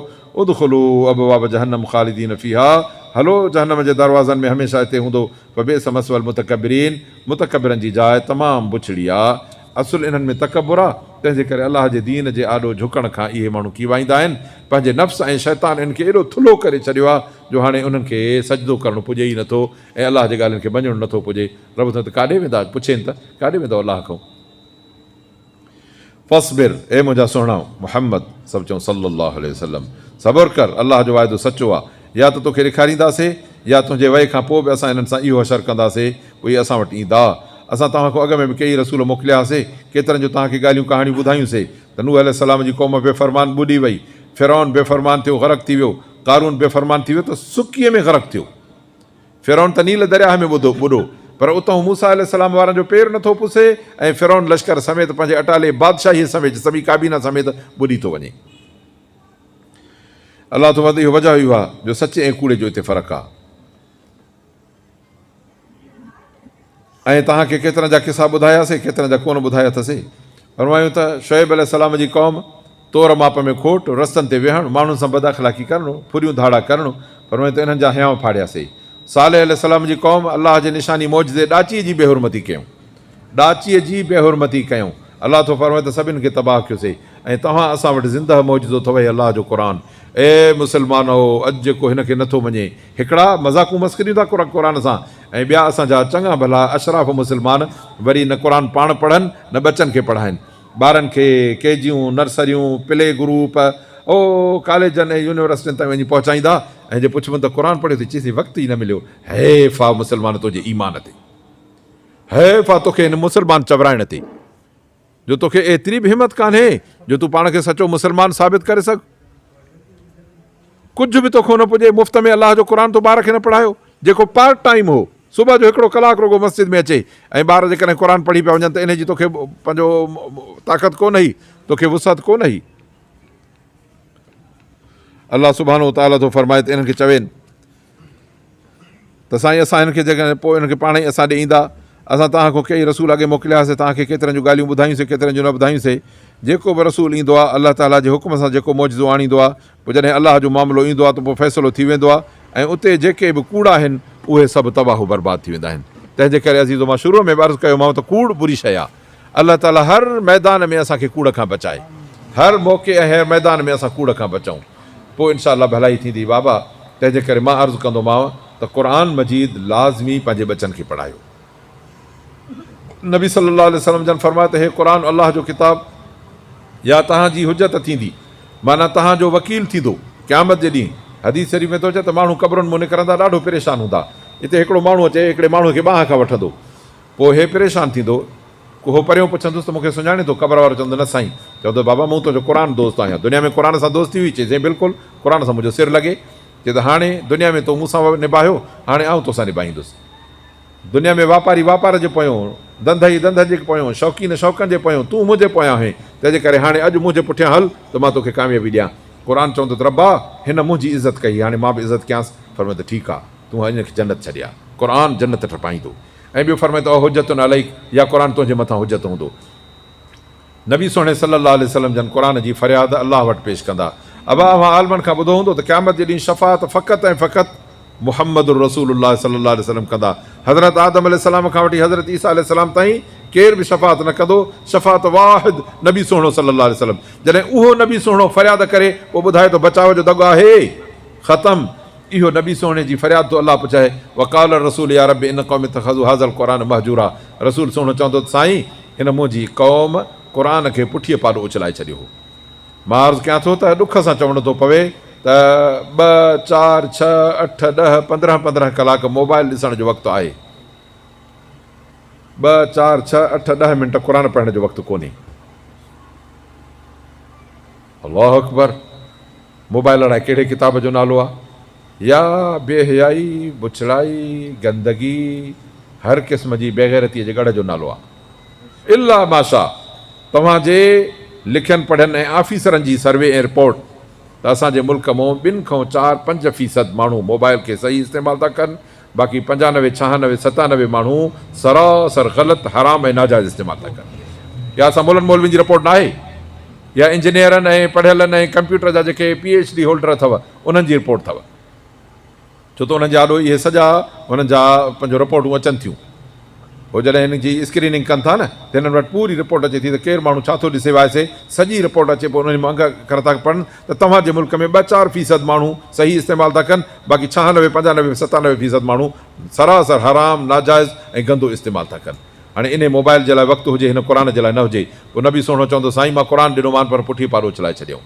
ادخلوا ابواب جهنم خالدين فيها هلو جهنم جي دروازن ۾ هميشه هتي هوندو فبئس مثوي المتڪبرين، متڪبرن جي جاء تمام بڇڙي آ. اصل انهن ۾ تڪبر آ، تنهن جي ڪري الله جي دين جي آڏو جهڪڻ کان اهي ماڻهو ڪيوائيندا آهن. پنهنجي نفس ۽ شيطان انهن کي ايڏو ٿلهو ڪري ڇڏيو آ، جو هاڻي انهن کي سجدو ڪرڻ پڄي ئي نٿو ۽ الله جي ڳالهين کي مڃڻ نٿو پڄي. رب ٿو ته ڪاڏي ويندا؟ پڇين ته، ڪاڏي ويندؤ الله کئون؟ فاصبر، اي منهنجا سهڻا محمد، سڀ چئون صلّي اللّٰه عليه وسلّم، صبر ڪر، الله جو واعدو سچو آ، يا ته توکي ڏيکارينداسي، يا تنهنجي وئي کان پوء به اسان انهن سان اهو حشر ڪنداسي، پوء اهي اسان وٽ ايندا. اسان توهان کان اڳ ۾ به ڪيئي رسول موڪليا هاسي، ڪيترن جون توهان کي ڳالهيون ڪهاڻيون ٻڌايون سي ته نوح عليه السّلام جي قوم بي فرمان ٻڏي وئي، فرعون بي فرمان ٿيو غرق ٿي ويو، قارون بي فرمان ٿي ويو ته سڪيء ۾ غرق ٿيو. فرعون ته نيل درياهه ۾ ٻڌو ٻڏو پر اتهون موسيٰ عليه السلام وارن جو پير نٿو پسي ۽ فرعون لشڪر سميت پنهنجي اٽالي بادشاهيء سميت سڀئي ڪابينا سميت ٻڏي ٿو وڃي. الله ٿو وڌ اهو وجهه اهو آهي جو سچي ۽ ڪوڙي جو اتي فرق آهي. ۽ توهان کي ڪيترن جا قصا ٻڌايا سي ڪيترن جا ڪونه ٻڌايا اٿ سي. فرمايون ته، شعيب عليه السلام جي قوم، تور ماپ ۾ کوٽ، رستن تي ويهڻ، ماڻهن سان بد اخلاقي ڪرڻ، ڦريون ڌاڙا ڪرڻ، فرمايون ته انهن جا هيانء ڦاڙيا سي. صالح عليه السلام جي قوم، الله جي نشاني معجزي ڏاچيء جي بي حرمتي ڪيون. ڏاچيء جي بي حرمتي ڪيون. الله ٿو فرمائي ته سڀن کي تباهه ڪيو سي ۽ توهان اسان وٽ زندهه معجزو اٿو اهي الله جو قرآن. اي مسلمانؤ! اڄ جيڪو هن کي نٿو مڃي، هڪڙا مذاقون مسخريون ٿا ڪرن قرآن سان ۽ ٻيا اسان جا چڱا ڀلا اشراف مسلمان وري نه قرآن پاڻ پڙهن نه ٻچن کي پڙهائين. ٻارن کي ڪي جيون، نرسريون، پلي گروپ او ڪاليجن ۽ يونيورسٽين تائين وڃي پهچائيندا ۽ جي پڇبن ته قرآن پڙهيو ته چئيسين وقت ئي نه مليو. حيف آ مسلمان تنهنجي ايمان تي. حيف آ توکي هن مسلمان چورائڻ تي. جو توکي ايتري به همت ڪانهي جو تون پاڻ کي سچو مسلمان ثابت ڪري سگهه. ڪجهه به توکون نه پڄي مفت ۾ الله جو قرآن تو ٻار کي نه پڙهايو جيڪو پارٽ ٽائيم هو صبح جو هڪڙو ڪلاڪ رڳو مسجد ۾ اچي ۽ ٻار جيڪڏهن قرآن پڙهي پيا وڃن ته انهي جي توکي پنهنجو طاقت ڪونه هئي توکي وسعت ڪونه هئي الله سبحانه وتعالٰي ٿو فرمائي ته انهن کي چوين ته سائين اسان هن کي جيڪڏهن پوء هن کي پاڻ ئي اسان ڏي ايندا. اسان توهان کان ڪيئي رسول اڳي موڪليا سي توهان کي ڪيترن جون ڳالهيون ٻڌايون سي ڪيترن جون نه ٻڌايون سي. جيڪو به رسول ايندو آهي الله تعاليٰ جي حڪم سان جيڪو معجزو آڻيندو آهي پوء جڏهن الله جو معاملو ايندو آهي ته پوء فيصلو ٿي ويندو آهي ۽ اتي جيڪي به ڪوڙا آهن اهي سڀ تباهه و برباد ٿي ويندا آهن تنهن جي ڪري عزيزو مان شروع ۾ به عرض ڪيومانو ته ڪوڙ بري شيء آهي. الله تعالي هر ميدان ۾ اسان کي ڪوڙ کان بچائي هر موقعي ۽ هر ميدان ۾ اسان ڪوڙ کان بچون پوء ان شاء الله ڀلائي ٿيندي بابا تنهنجي ڪري مان عرض ڪندومانو ته قرآن مجيد لازمي پنهنجي ٻچن کي پڙهايو نبي صلي الله عليه وسلم جن فرمايو ته هي قرآن الله جو ڪتاب يا تهان جي حجت ٿيندي معنيٰ تهان جو وڪيل ٿيندو قيامت جي ڏينهن حديث شريف ۾ ٿو اچي ته ماڻهو قبرن مون نڪرندا ڏاڍو پريشان هوندا اتي هڪڙو ماڻهو اچي هڪڙي ماڻهو کي ٻانهن کان وٺندو پوء هي پريشان ٿيندو. اهو پريون پڇندس ته مون کي سڃاڻين ٿو؟ قبر وارو چوندو نه سائين. چوندو بابا مون تنهنجو قرآن دوست آهيان. دنيا ۾ قرآن سان دوستي هئي؟ چئي سائين بلڪل. قرآن سان منهنجو سر لڳي. چئي ته هاڻي دنيا ۾ تو مون سان نباهيو هاڻي آئون توسان نباهيندس. دنيا ۾ واپاري واپار جي پويون، ڌنڌئي ڌنڌئن جي پويون، شوقين شوقن جي پويون تون منهنجي پويان آهين. تنهنجي ڪري هاڻي اڄ منهنجي پٺيان هل ته مان توکي ڪاميابي ڏيان. قرآن چوندو ته ربا هن منهنجي عزت ڪئي هاڻي مان به عزت ڪيانس. فرمائي ته ٺيڪ آ. تون هاڻ هن کي جنت ڇڏي آ. قرآن جنت ٺپائيندو. ۽ ٻيو فرمائي ته او حجت عليڪ يا قرآن تنهنجي مٿان حجت هوندو. نبي سهڻي صلّي الله عليه وسلّم جن قرآن جي فرياد الله وٽ پيش ڪندا. ابا اوهان عالمن کان ٻڌو هوندو ته قيامت جي ڏينهن شفاعت فقط ۽ فقط محمّد رسول الله صلّي الله عليه وسلّم ڪندا. حضرت آدم عليه السّلام کان وٺي حضرت عيسيٰ عليه السّلام تائين ڪير به شفاعت نه ڪندو، شفاعت واحد نبي سهڻو صلّي الله عليه وسلّم. جڏهن اهو نبي سهڻو فرياد ڪري پوء ٻڌائي ته بچاء جو دڳ آهي. ختم. اهو نبي سهڻي جي فرياد ٿو الله پڇائي، وقال الرسول يا رب ان قوم اتخذوا هذا القرآن مهجورا رسول سهڻو چوندو ته سائين هن منهنجي قوم قرآن کي پٺيء پاڏو اڇلائي ڇڏيو هو. مان عرض ڪيان ٿو ته ڏک سان چوڻو ٿو پوي ته ٻه، چار، ڇهه، اٺ، ڏهه، پندرهن پندرهن ڪلاڪ موبائل ڏسڻ جو وقت آهي. ٻه، چار، ڇهه، اٺ، ڏهه منٽ قرآن پڙهڻ جو وقت ڪونهي. الله اڪبر موبائل اڙائي ڪهڙي ڪتاب جو نالو آ يا بي حيائي بڇڙائي گندگي هر قسم جي بيغيرتي جي ڳڙهه جو نالو آ الا ماشا توهان جي لکين پڙهين ۽ آفيسرن جي سروي ۽ رپورٽ ته اسان جي ملڪ مون ٻن کون چار پنج فيصد ماڻهو موبائل کي صحيح استعمال ٿا ڪن باقي پنجانوي ڇهانوي ستانوي ماڻهو سراسر غلط حرام ۽ ناجائز استعمال ٿا ڪن يا اسان مولن مولوين جي رپورٽ ناهي يا انجنيئرن ۽ پڙهيلن ۽ ڪمپيوٽر جا جيڪي پي ايڇ ڊي هولڊر اٿو انهن جي رپورٽ اٿو ڇو ته انهن جي آڏو اهي سڄا انهن جا پنهنجو رپورٽون اچن ٿيون. هو جڏهن هن جي اسڪريننگ ڪن ٿا نه ته هنن وٽ پوري رپورٽ اچي ٿي ته ڪير ماڻهو ڇا ٿو ڏسي وائسي سڄي رپورٽ اچي پوء انهي مان انگ اکر ٿا پڙهن ته توهان جي ملڪ ۾ ٻه چار فيصد ماڻهو صحيح استعمال ٿا ڪن باقي ڇهانوي پنجانوي ستانوي فيصد ماڻهو سراسر حرام ناجائز ۽ گندو استعمال ٿا ڪن هاڻي انهي موبائل جي لاء وقت هجي هن قرآن جي لاء نه هجي پوء نبي سهڻو چوندو سائين مان قرآن ڏنو مان پر پٺي پارو اڇلائي ڇڏيائون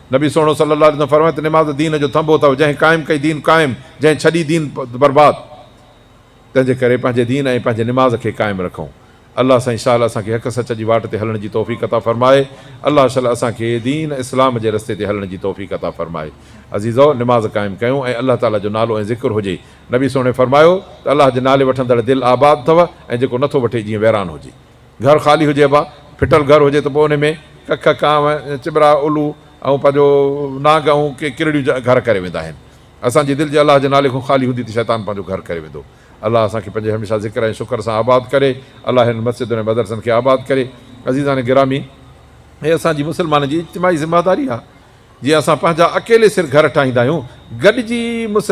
نبي سهڻو صلّي اللّٰه عليه وسلّم فرمايو ته نماز دين جو ٿنڀو اٿئو، جنهن قائم ڪئي دين قائم، جنهن ڇڏي دين برباد. تنهن جي ڪري پنهنجي دين ۽ پنهنجي نماز کي قائم رکئون. الله سائين شاله اسان کي حق سچ جي واٽ تي هلڻ جي توفيق عطا فرمائي. الله شل اسان کي دين اسلام جي رستي تي هلڻ جي توفيق عطا فرمائي. عزيزؤ! نماز قائم ڪيون ۽ الله تعالي جو نالو ۽ ذڪر هجي. نبي سهڻي فرمايو ته الله جي نالي وٺندڙ دل آباد اٿئو ۽ جيڪو نٿو وٺي جيئن ويران هجي. گهر خالي هجي با ڦٽل گهر هجي ته پوء انهي ۾ ڪک، ڪانء، چٻرا، الو ۽ پنهنجو نانگ ۽ ڪي ڪرڙيون گهر ڪري ويندا آهن. اسان جي دل جي الله جي نالي کان خالي هوندي ته شيطان پنهنجو گهر ڪري ويندو. الله اسان کي پنهنجي هميشه ذڪر ۽ شڪر سان آباد ڪري. الله هنن مسجدن ۽ مدرسن کي آباد ڪري. عزيزان گرامي! هي اسان جي مسلمانن جي اجتماعي ذمه داري آهي. جيئن اسان پنهنجا اڪيلي سر گهر ٺاهيندا آهيون، گڏجي مسلمان.